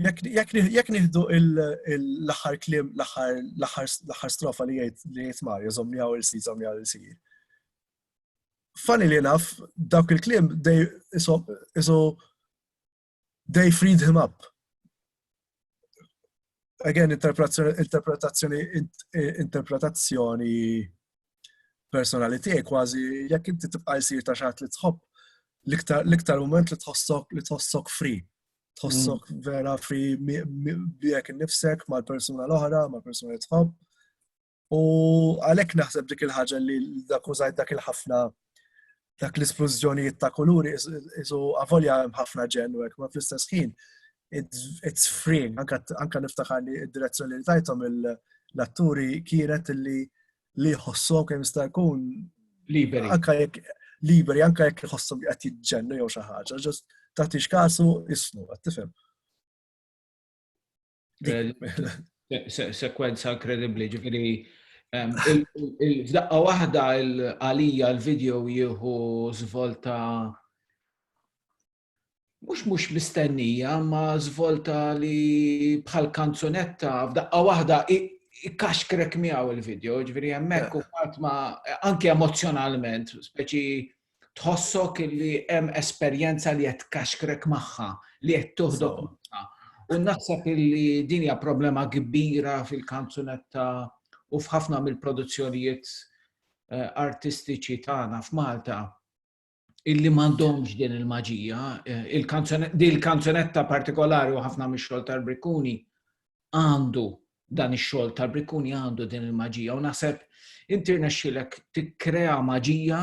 Jekk nieħdu l-aħħar klim, l-aħħar strofa li jgħid li jgħid Mario, żomni għaw il-sir, żomni għaw il-sir. Funny li naf, dawk il-klim, isu They freed him up. Again, interpretazzjoni, interpretazzjoni, interpretazzjoni personali tiegħi kważi jekk inti tibqa' jsir ta' xaħat li tħobb l-iktar moment li tħossok li tħossok free. Tħossok mm. vera free bijek nifsek mal-persuna l-oħra, mal-persuna li tħobb. U għalhekk naħseb dik il-ħaġa li dak użajt dak il-ħafna dak l-isplużjonijiet ta' kuluri isu avolja ħafna ġennu hekk ma fl-istess ħin it's freeing anka niftakar li d-direzzjoni li tajthom l-atturi kienet li li jħossok kemm jista' jkun liberi. Anka jekk liberi, anka jekk jħossom qed jiġġennu jew xi ħaġa, ġust tagħtix kasu isnu, qed tifhem. Sekwenza inkredibbli, ġifieri f'daqqa waħda għalija l-video jieħu żvolta mhux mhux mistennija, ma żvolta li bħal kanzunetta f'daqqa waħda ikkaxkrek miegħu il-video, ġifieri hemmhekk u ma anke emozzjonalment, speċi tħossok li hemm esperjenza li qed tkaxkrek magħha, li qed toħdok magħha. U naħseb li din hija problema kbira fil-kanzunetta u f'ħafna mill-produzzjonijiet eh, artistiċi tagħna f'Malta illi m'għandhomx din il-maġija, eh, il-kanzunetta partikolari u ħafna mix-xogħol tal-Brikkuni għandu dan ix-xogħol ta' Briccuni għandu din il-maġija u naħseb inti rnexxilek tikkrea maġija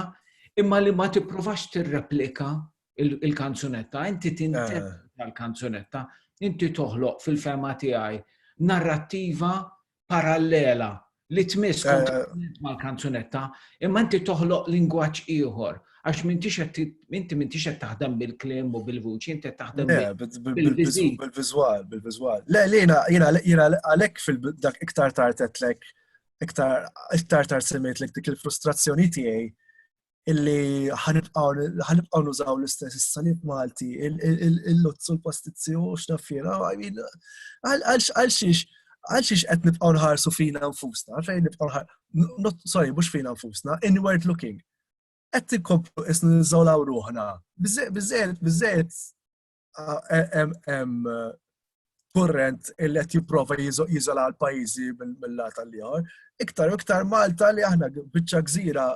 imma li ma tipprovax tirreplika il-kanzunetta, inti tinterpreta eh. l-kanzunetta, inti toħloq fil-fema tiegħi narrattiva parallela li tmiss kontinent mal-kanzunetta, imma inti toħloq lingwaġġ ieħor, għax mintix inti mintix qed taħdem bil-klim u bil-vuċi, inti qed taħdem bil-viżwal, bil-viżwal. Le, lina, jina, jina għalhekk fil-dak iktar tartetlek, iktar iktar tard semmejt lek dik il-frustrazzjoni tiegħi illi ħanibqaw nużaw l-istess is-salib Malti, il-luzz u l-pastizzi u xnaffira, għalxiex għalxiex qed nibqgħu nħarsu fina nfusna, fejn nibqgħu nħarsu, sorry, mhux fina nfusna, inward looking. Qed tinkomplu isnu niżolaw ruħna. Biżżejjed, biżżejjed hemm kurrent illi qed jipprova jiżola l-pajjiżi mill-lat tal-ieħor. Iktar u iktar Malta li aħna biċċa gżira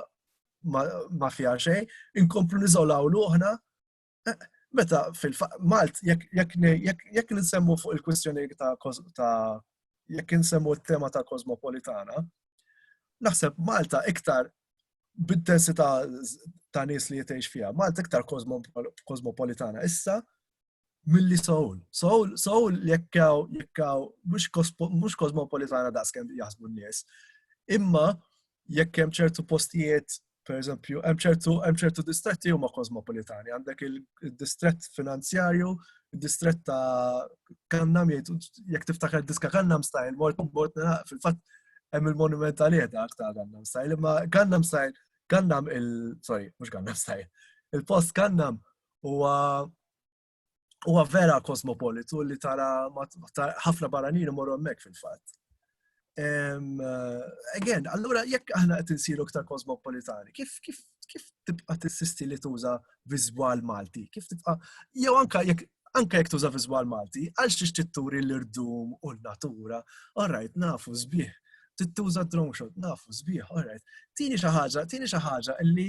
ma fiha xejn, inkomplu niżolaw luħna. Eh, meta fil-Malt, jekk nsemmu fuq il-kwistjoni ta' jekk nsemmu t-tema ta' kosmopolitana, naħseb Malta iktar bid-densità ta' nies li jitgħix fiha. Malta iktar kosmopolitana issa milli Seoul. Seoul, Seoul jekkaw, jekkaw, mhux kosmopolitana daqs kemm jaħsbu n-nies. Imma jekk hemm ċertu postijiet per eżempju, hemm ċertu distretti huma kosmopolitani, għandek il-distrett finanzjarju id-distrett ta' Kannam jgħidu jekk tiftakar diska Kannam Style, mort mort fil-fatt hemm il-monument għalih dak ta' Kannam Style, imma Kannam Style, Kannam il sorry, mhux Kannam Style. Il-post Kannam huwa huwa vera kosmopolitu li tara ħafna barranin imorru hemmhekk fil-fatt. Again, allura jekk aħna qed insiru aktar kosmopolitani, kif kif kif tibqa' tissisti li tuża viżwal Malti? Kif tibqa' jew anka jekk anka jekk tuża viżwal Malti, għalx tixtieq turi l-irdum u n-natura, orajt nafu sbieħ. Tittuża drone shot, nafu sbieħ, orajt. Tini xi ħaġa, tini xi ħaġa li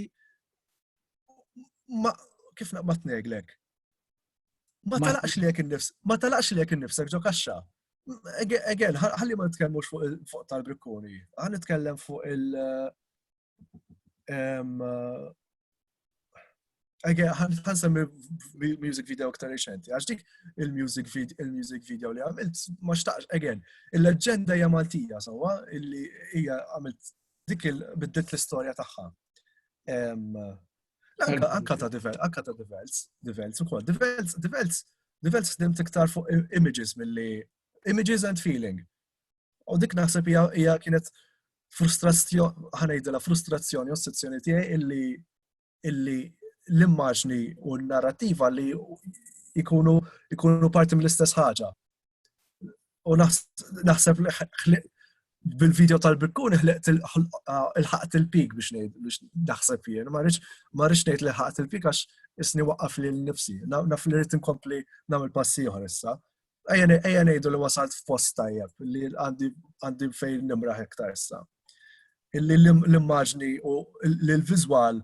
ma kif naqbad neglek, Ma talaqx li jek nifs, ma talaqx li jek nifsek ġo kaxxa. Again, ħalli ma nitkellmux fuq tal-brikkuni, ħalli nitkellem fuq il- Again, ħan semmi music video ktar reċenti, għax dik il-music video, il-music video li għamilt, ma xtaqx, again, il-leġenda hija Maltija, sawa, illi hija għamilt dik il-biddilt l-istorja tagħha. Anka ta' divels, anka ta' divels, divels u kod. Divels, divels, divels f'dim tiktar fuq images mill-li, images and feeling. U dik naħseb hija kienet frustrazzjoni, ħanajdela frustrazzjoni, ossessjoni tiegħi illi illi l-immaġni u n-narrativa li ikunu ikunu parti mill-istess ħaġa. u naħseb li ħliq bil-video tal-bikkun ħliqt il-ħaqt il-pik biex ngħid biex naħseb jien, ma rridx ngħid li ħaqt il-pik għax isni waqqaf li l-nifsi, naf li rrid inkompli nagħmel passi oħra issa. Ejja ngħidu li wasalt fost tajjeb li għandi fejn nimraħ iktar issa. Illi l-immaġni u l-viżwal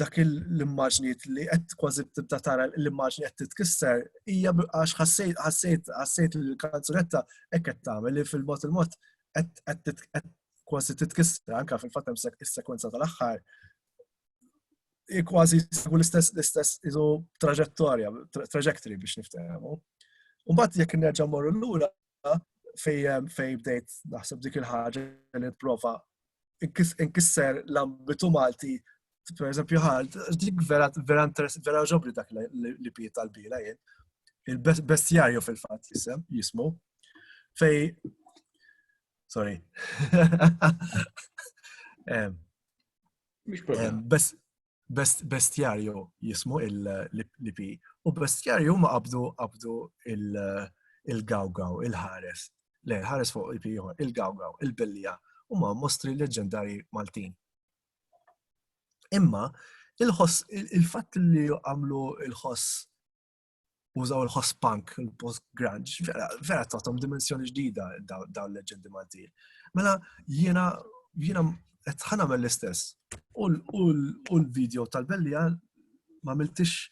dak l-immaġnijiet li qed kważi tibda tara l-immaġni qed titkisser hija għax ħassejt ħassejt ħassejt li l-kanzunetta hekk qed tagħmel li fil-mod il-mod qed kważi titkisser anke fil-fatt hemm is-sekwenza tal-aħħar kważi jsibu l-istess l-istess iżu traġettorja, trajectory biex niftehmu. Mbagħad jekk nerġa' morru lura fejn fej bdejt naħseb dik il-ħaġa li prova inkisser l-ambitu Malti per eżempju ħal, dik vera vera vera ġobri dak li piet tal-bila jien. Il-bestjarju fil-fatt jisem, jismu. Fej Sorry. Best Best, bestjarju jismu l-IP u bestjarju ma qabdu qabdu il-gawgaw, il-ħares, le, ħares fuq IP ieħor, il-gawgaw, il-bellija u ma mostri leġendari Maltin. Imma il-ħoss, il-fatt li għamlu il-ħoss użaw il-ħospunk, il-post-grunge, vera, vera tatom dimensjoni ġdida daw l-leġendi Maltin. Mela, jiena, jiena, tħana mill istess U l-video tal-bellija ma miltix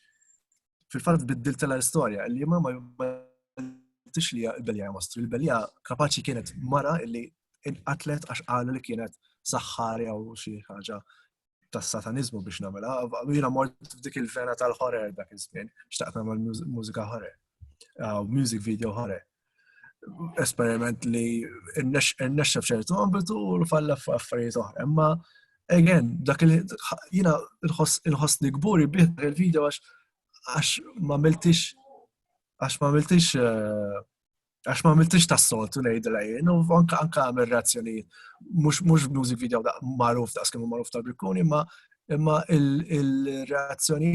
fil-fatt biddil tal istoria li ma ma miltix li l-bellija mostru. Il-bellija kapaċi kienet mara illi inqatlet għax qalu li kienet saħħari għaw xi ħaġa tas-sataniżmu biex nagħmilha, u jiena mort f'dik il-vena tal-ħorer dak iż-żmien, xtaqt nagħmel mużika ħorer, uh, music video ħorer. Esperiment li rnexxa f'ċertu ambitu u l-falla f'affarijiet oħra, imma again, dak li jiena nħossni kburi bih dak il-video għax ma miltix għax ma miltix uh, Għax ma għamiltix ta' soltu nejdu lajjen, u anka anka għamil reazzjoni, mux music video da' maruf da' skemu maruf ta' Birkuni, ma imma il-reazzjoni,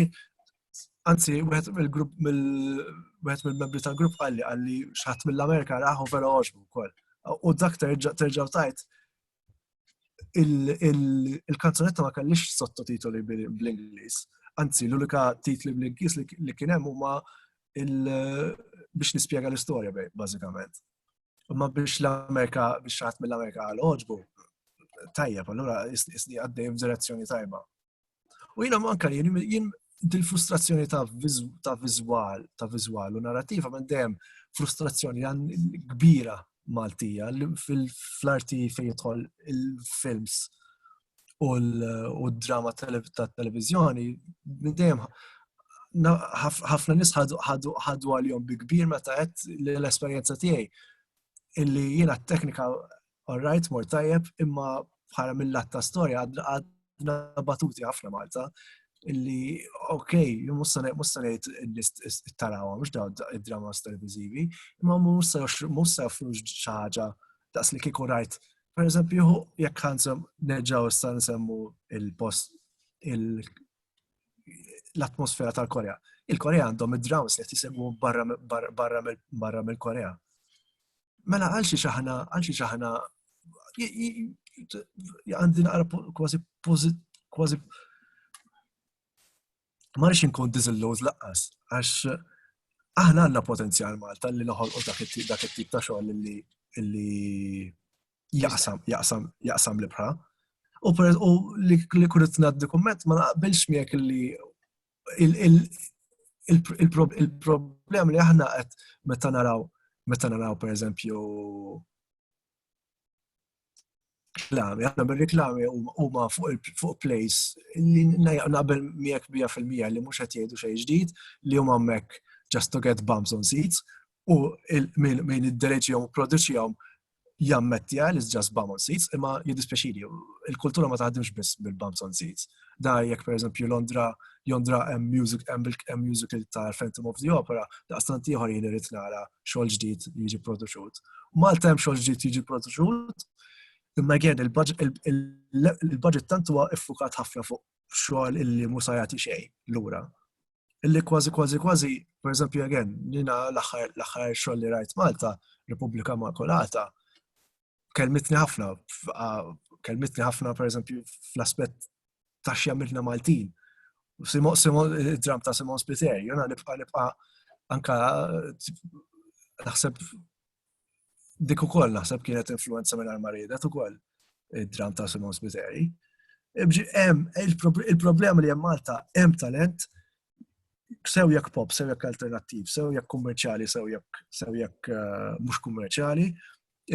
anzi, wieħed mill-grupp, wieħed mill-membri tal-grupp għalli għalli xaħat mill-Amerika raħu vera oġbu kol. U dak terġaw tajt, il-kanzunetta ma kellix sottotitoli bl-Ingliż. Anzi, l-unika titli bl-Ingliż li kien hemm huma biex nispjega l-istorja bażikament. Imma biex l-Amerika, biex ħadd mill-Amerika għal oġbu, tajjeb, allura isni għaddej f'direzzjoni tajba. U jina manka li jien dil-frustrazzjoni ta' vizual, ta' vizual u narrativa minn dejjem frustrazzjoni kbira Maltija fl-arti fejn jidħol il-films u l-drama ta' televizjoni minn dejjem ħafna nis ħadu għal-jom bi kbir meta għed l-esperienza tiegħi illi jiena t-teknika all right, mor tajjeb, imma bħala mill-lat ta' storja għadna batuti ħafna Malta illi, ok, musta nejt il-tarawa, mux daw id-dramas televizivi, imma musta joffrux xaġa daqs li kiku rajt. Per eżempju, jekk ħansem neġaw issa nsemmu il-post l-atmosfera tal-Korea. Il-Korea għandhom id-drones li tisegwu barra mill-Korea. Mela għal xi xaħna, għal xi xaħna, għandi naqra kważi kważi ma rix inkun diżilluż laqqas, għax aħna għandna potenzjal Malta li noħolqu dak it-tip ta' xogħol li jaqsam, jaqsam, jaqsam l-ibħra. U per u li kunet naddi komment ma naqbilx miegħek li il-problem li aħna qed meta naraw meta naraw per eżempju reklami, aħna bir-reklami huma fuq place li naqbel miegħek bija fil-mija li mhux qed jgħidu xejn ġdid li huma hemmhekk just to get bumps on seats u min iddereġihom u produċihom jammettija li ġas bam on seats, imma jiddispjaċili, il-kultura ma taħdimx biss bil-bams on seats. Da jekk per eżempju Londra, Londra hemm music hemm musical ta' Phantom of the Opera, daqstant ieħor jien irid nara xogħol ġdid jiġi produċut. Malta hemm xogħol ġdid jiġi produċut, imma again il-budget tant huwa iffukat ħafna fuq xogħol illi mhux se jagħti xejn lura. Illi kważi kważi kważi, per eżempju, again, nina l-aħħar xogħol li rajt Malta, Repubblika Makulata, kelmitni ħafna, kelmitni ħafna, per eżempju, fl-aspett ta' x'jamilna Maltin. Dram ta' Simon Spiteri, jona nibqa' nibqa' anka naħseb dik ukoll naħseb kienet influenza minn armaridet ukoll id-dram ta' Simon Spiteri. Il-problema li hemm Malta hemm talent sew jekk pop, sew jekk alternattiv, sew jekk kummerċjali, sew jekk sew jekk eh, mhux kummerċjali,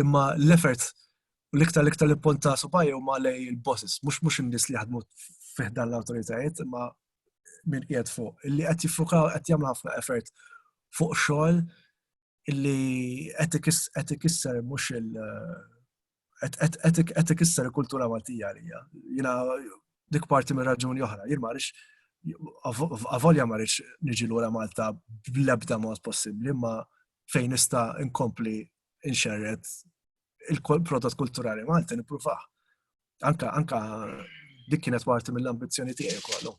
imma l-effort l-iktar l-iktar l-ponta subaj u ma lej il-bosses, mhux mhux in-nies li jaħdmu fiħdan l-awtoritajiet, imma minn qiegħed fuq, li qed jiffukaw qed jagħmlu ħafna effort fuq xogħol illi qed ikisser mhux il qed ikisser il-kultura Maltija għalija. Jiena dik parti minn raġuni oħra, jien ma rix avolja ma rix niġi lura Malta bl-ebda mod possibbli, ma fejn nista' inkompli inxerret il-prodott kulturali Malta nippruvaħ. Anka, anka dik kienet parti mill-ambizzjoni tiegħi kollu.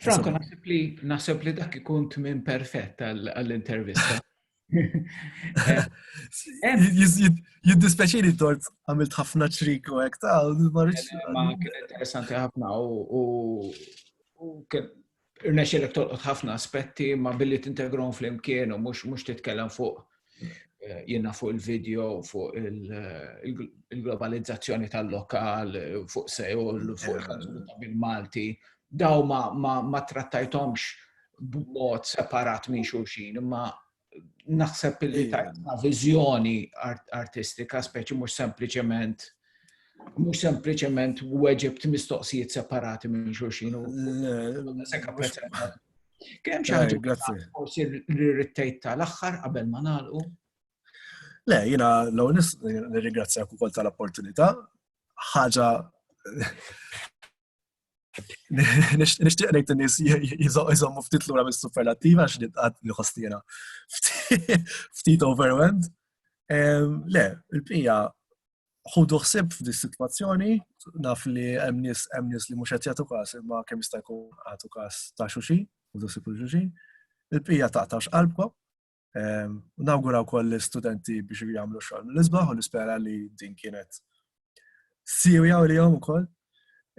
Franco, naħseb li naħseb li dak ikun tmien perfett għall-intervista. Jiddispeċini tort għamilt ħafna ċrik u għek ta' marriċ. Ma kien interessanti ħafna u irnexxilek tolqot ħafna aspetti ma billi tintegrom flimkien u mhux mhux titkellem fuq eh, jiena fuq il-video, fuq il-globalizzazzjoni tal-lokal, fuq Seul, fuq il-Malti. Daw ma, ma, ma trattajtomx b'mod separat minn xulxin, imma naħseb li tajna viżjoni artistika, speċi mhux sempliċement mhux sempliċement weġibt mistoqsijiet separati minn xulxin. Kemm xi ħaġa forsi rirrittejt tal-aħħar qabel ma nagħlqu? Le, jiena l-ewwel nirringrazzjak ukoll tal-opportunità. Ħaġa Nishtiq ngħid in-nies jżommu ftit lura mis-superlattiva għax nitqat li ħostiera ftit overwhelmed. Le, il-pija ħudu ħsib f'di situazzjoni, naf li hemm nies hemm nies li mhux qed jagħtu każ imma kemm jista' jkun għatu każ ta' xuxi, ħudu ħsib xuxi. Il-pija taqtax qalbkom, Ehm, nawgura wkoll l-istudenti biex jagħmlu xogħol mill-isbaħ u nispera li din kienet siwja u li jom ukoll.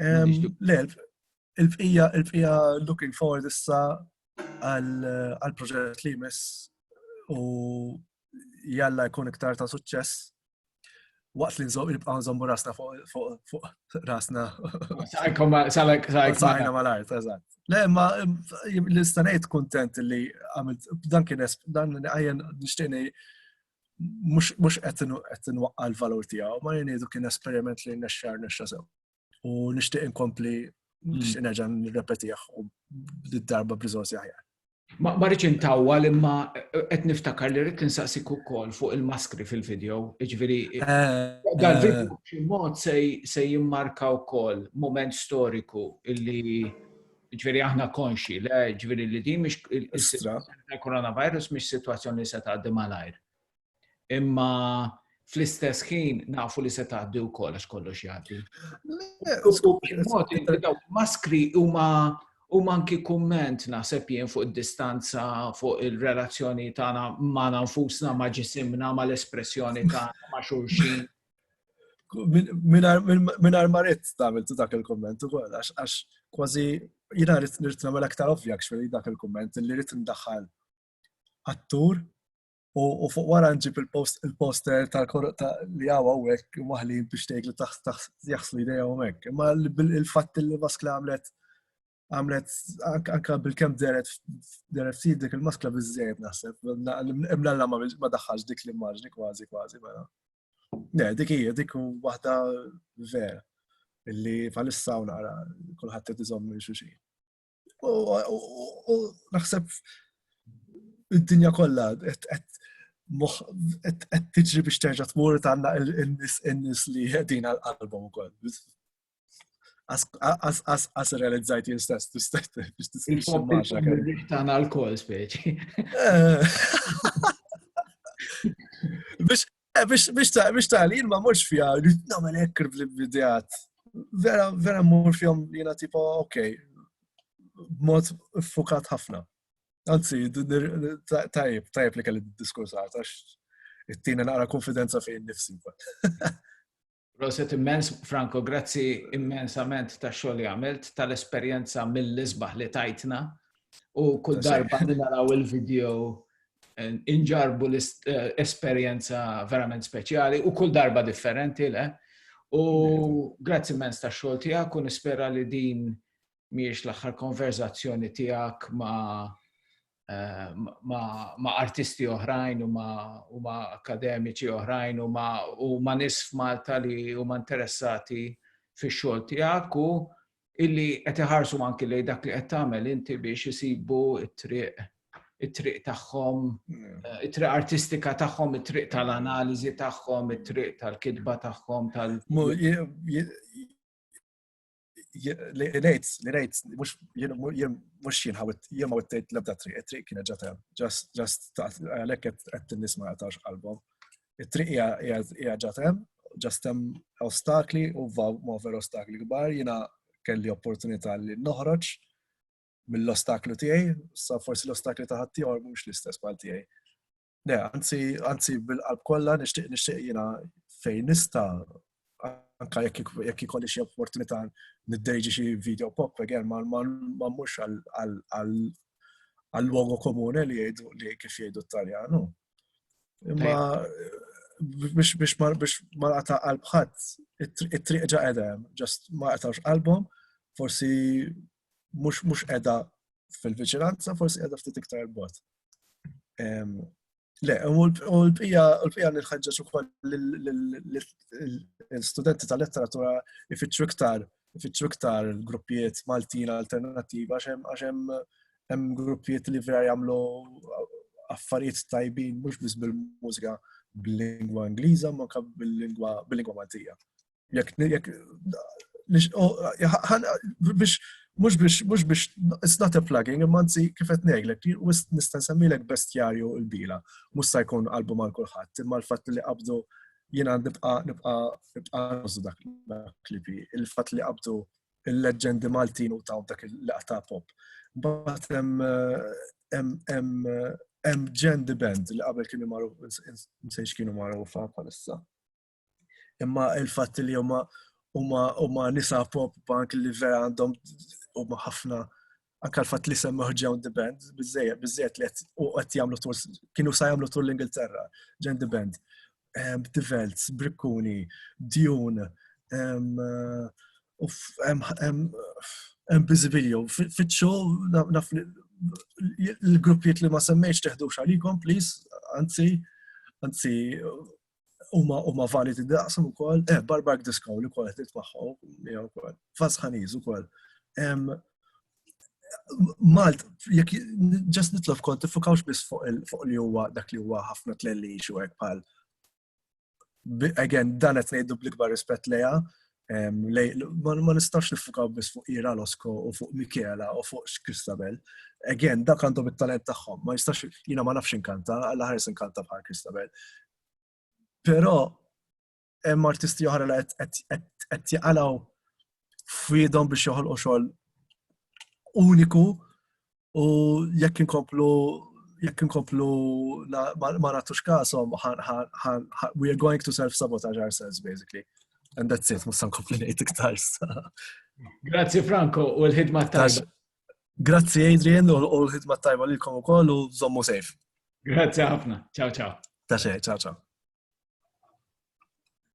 Ehm, le, il-bqija il-bqija looking forward issa għal proġett li jmiss u jalla jkun iktar ta' suċċess waqt li nżomm nibqgħu nżommu rasna fuq rasna. Sajkom salek sajna mal-art, eżatt. Le, ma l-istanejt kontent li għamilt dan kien dan għajen nixtieni mux qed nwaqqa l-valur tiegħu, ma jenidu kien esperiment li nexxar nexxa sew. u nixtieq inkompli mm. nixtieq nerġa' nirrepetih u darba b'riżorsi aħjar. Ma rridx intawwa li ma qed niftakar li rrid insaqsik ukoll fuq il-maskri fil-video, jiġifieri eh, eh. dal-video b'xi mod se jimmarka wkoll moment storiku illi ġveri aħna konxi, le ġveri li di mish il-coronavirus mish situazzjoni li se taqdim għalajr. Imma fl-istess ħin nafu li se tgħaddi wkoll għax kollox jgħaddi. Maskri huma u manki kumment naħseb jien fuq id-distanza, fuq il-relazzjoni tagħna ma' nfusna, ma' ġisimna, ma' l-espressjoni tagħna ma' xulxin. Minn armaret tagħmel dak il-kumment ukoll għax kważi jiena rrid nagħmel aktar ovvja x'feri dak il-kumment li rrid ndaħħal attur U fuq wara nġib il-poster tal-korruqta li għaw għawek maħli biex tgħid li taħt jaħslu ideja u mek. Ma il-fatt li maskla għamlet għamlet anka bil-kem deret deret si dik il-maskla bizzejb naħseb. Imlalla ma daħħax dik l-immaġni kważi kważi mela. Ne, dik hija dik waħda vera illi palissa u nara kulħadd qed iżomm minn xi U naħseb id-dinja kollha qed tiġri biex terġa' tmur tagħna in-nies li qegħdin għal qalbhom ukoll. As realizzajt jien stess tagħna l-kol speċi. Eh. Biex Eh, biex tali, jien ma morx fija, rrit namel ekkr bl-idejat. Vera, vera mur fjom jena tipo, ok, mod fukat ħafna. Anzi, tajb, tajb li kelli diskursat, għax it-tina naqra konfidenza fejn nifsi. Proset immens, Franco, grazzi immensament ta' xogħol li għamilt, tal-esperjenza mill-isbaħ li tajtna u kull darba li naraw il-video eh, inġarbu l-esperjenza eh, verament speċjali u kull darba differenti le. U grazzi immens ta' xogħol tiegħek u nispera li din mhijiex l-aħħar konverzazzjoni tiegħek ma' eh, ma, ma artisti oħrajn u ma, u ma akademiċi oħrajn u ma, u ma nis f'Malta li huma interessati fix xogħol tiegħek u illi qed iħarsu anki lejn dak li qed tagħmel inti biex isibu t-triq it-triq tagħhom, mm. eh, it-triq artistika tagħhom, it-triq tal-analiżi tagħhom, it-triq tal-kitba tagħhom tal li rejt, li rejt, mux jien ħawit, jien ma wittejt l-ebda triq, triq kienet ġata, ġast għalek għed t-nis ma għatax qalbom. Triq hija ġatem, ġastem ostakli u ma ver ostakli gbar, jina kelli opportunità li noħroġ mill-ostaklu tiegħi, sa forsi l-ostakli ta' ħaddieħor mhux l-istess bħal tiegħi. Le, anzi, anzi bil-qalb kollha nixtieq nixtieq jiena fejn nista' anka jekk ikolli xi opportunità niddejġi xi video pop again ma mhux għal logo komune li jgħidu li kif jgħidu t-Taljanu. Imma biex biex ma biex ma qata qalb ħadd it-triq ġa qedem, ġast ma qatawx qalbhom, forsi mhux mhux qiegħda fil-viċinanza, forsi qiegħda ftit iktar bot. Le, u l-pija nħħġġaġ ukoll l-studenti tal-letteratura ifittxu iktar ifittxu iktar gruppijiet Maltin alternattiva għax hemm gruppijiet li vera jagħmlu affarijiet tajbin mhux biss bil-mużika bil-lingwa Ingliża ma bil-lingwa bil-lingwa Maltija. Jekk jekk biex mhux biex mhux biex it's not a plugging imma anzi kif qed ngħidlek nista' nsemmilek bestjarju l-bila mhux se jkun qalbu mal kulħadd imma l-fatt li qabdu jiena nibqa' nibqa' nibqa' nużu dak klipi il-fatt li qabdu il-leġendi Maltin u taw dak il-laqta pop. Mbagħad hemm ġendi band li qabel kienu magħruf nsejx kienu magħrufa bħalissa. Imma il-fatt li huma huma nisa pop bank li vera għandhom huma ħafna anka l-fatt li semmaħ John the Band, bizzejed, bizzejed li u għet jamlu tur, kienu sa jamlu tur l-Ingilterra, John the Band, The Velts, Brikkuni, Dune, Bizibilio, fitxu, l-gruppiet li ma semmejx teħdu xalikom, please, anzi, anzi, huma huma validi daqshom ukoll, eh Barbark Disco li wkoll qed nitmaħħu miegħu wkoll. Fasħaniż ukoll. Malt, jekk ġast nitlob kont tifukawx biss fuq li huwa dak li huwa ħafna tlelli xi hekk bħal again dan qed ngħidu bl-ikbar rispett lejha, ma nistax nifukaw biss fuq Ira Losko u fuq Michela u fuq Kristabel. Again, dak għandhom it-talent tagħhom, ma jistax jiena ma nafx inkanta, għal ħares inkanta bħal Kristabel. Però hemm artisti oħra li qed jaqalgħu f'idhom biex joħolqu xogħol uniku u jekk inkomplu jekk inkomplu ma natux kasom, we are going to self-sabotage ourselves, basically. And that's it, musan kompli nejt iktar. Grazzi Franco, u l-ħidma tajba. Grazzi Adrian, u l-ħidma tajba li l-kom u koll, u zommu sejf. Grazzi ħafna, ciao ciao. Ta' xej, ciao ciao.